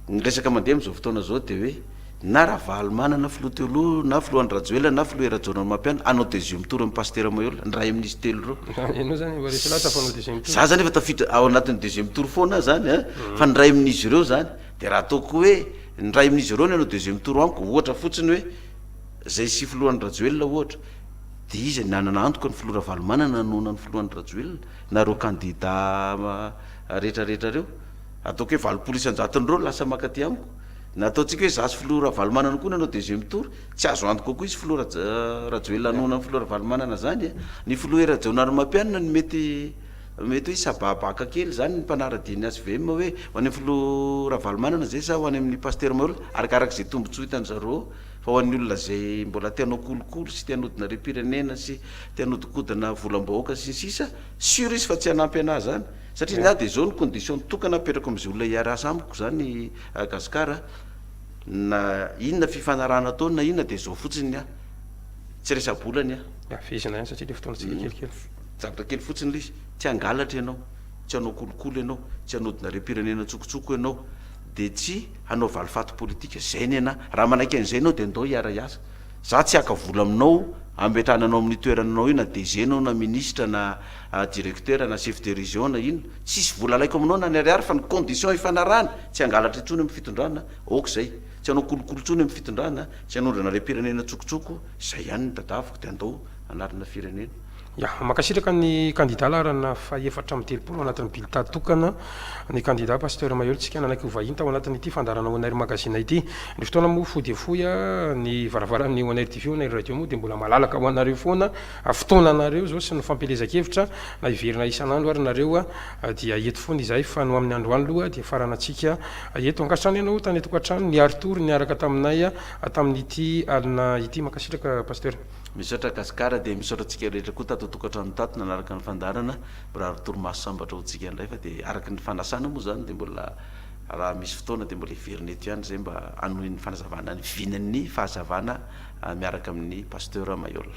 Ny resaka mandeha amin'izao fotoana izao dia hoe na Ravalomanana filoha teo aloha, na filoha Andry Rajoelina, na filoha Hery Rajaonarimampianina hanao deuxième tour amin'i Pasitera Maheola, ny ray amin'izy telo ireo. Ianao izany efa resy lahatra fa hanao deuxième tour. Za izany efa tafiditra ao anatin'ny deuxième tour foana aho izany an! Fa ny ray amin'izy ireo izany. Dia raha ataoko hoe ny ray amin'izy ireo no hanao deuxième tour amiko, ohatra fotsiny hoe izay sy filoha Andry Rajoelina ohatra, dia iza ny hanana antoka ny filoha Ravalomanana hanohana ny filoha Andry Rajoelina na ireo kandida rehetrarehetra ireo? Ataoko hoe valopolo isan-jaton'ireo no lasa maka aty amiko. Na ataontsika hoe izaho sy filoha Ravalomanana koa no hanao deuxième tour, tsy azo antoka kokoa izy filoha Raj Rajoelina hanohana ny filoha Ravalomanana izany e. Ny filoha Hery Rajaonarimampianina no mety mety hoe hisababaka kely izany ny mpanara-dia ny HVM hoe ho any amin'ny filoha Ravalomanana izay sa ho any amin'ny Pasitera Mahelola, arakaraka izay tombotsoa hitan-dry zareo eo. Fa ho an'ny olona izay mbola te hanao kolikoly sy te hanodina harem-pirenena sy te hanodinkodina volam-bahoaka sy ny sisa, sûr izy fa tsy hanampy anah izany. Satria ny ahy dia izao no condition tokana apetrako amin'izay olona hiara-asa amiko izany a Gascar a, na inona fifanarahana atao na inona dia izao fotsiny ny ahy, tsy resa-bola ny ahy. Hafizina ihany satria ilay fotoanantsika kelikely. Zavatra kely fotsiny ilay izy, tsy hangalatra ianao, tsy hanao kolikoly ianao, tsy hanodina harem-pirenena an-tsokotsoko ianao, dia tsy hanao valifaty politika, izay ny an'ahy. Raha manaiky an'izay ianao dia ndao hiara-hiasa. Izaho tsy haka vola aminao hametrahana anao amin'io toerana anao io na DG ianao na minisitra na Ah directeur na chef de region na inona, tsisy vola alaiko aminao na ny ariary fa ny condition ifanarahana, tsy hangalatra intsony amin'ny fitondrana, ok zay, tsy hanao kolikoly intsony amin'ny fitondrana, tsy hanondrana harem-pirenena tsokotsoko, zay ihany ny tadiaviko dia andao hanarina firenena. Ya, mankasitraka ny kandida laharana fahefatra amby telopolo ao anatin'ny bilita tokana, ny kandida Pasteur Mahery Tsika nanaiky ho vahiny tao anatin'ity fandaharana Onair Magazine ity. Ny fotoana moa fohy dia fohy, ny varavaran'ny Onair TV, Onair Radio moa dia mbola malalaka ho anareo foana, fotoananareo zao sy ny fampielezan-kevitra na hiverina isan'andro ary nareo dia eto foana izahay fa no amin'ny androany loha dia faranantsika eto ankasitrano ianao tany atokantrano niary tory niaraka taminay tamin'ity alina ity mankasitraka Pasteur. Misaotra Gasikara dia misaotra antsika rehetra koa tato an-tokantrano tato nanaraka ny fandaharana, mirary torimaso sambatra ho antsika indray fa dia araka ny fanasana moa izany dia mbola raha misy fotoana dia mbola hiverina eto ihany izahay mba hanohy ny fanazavana ny vinan'ny fahazavana miaraka amin'ny Pasteur Maihol.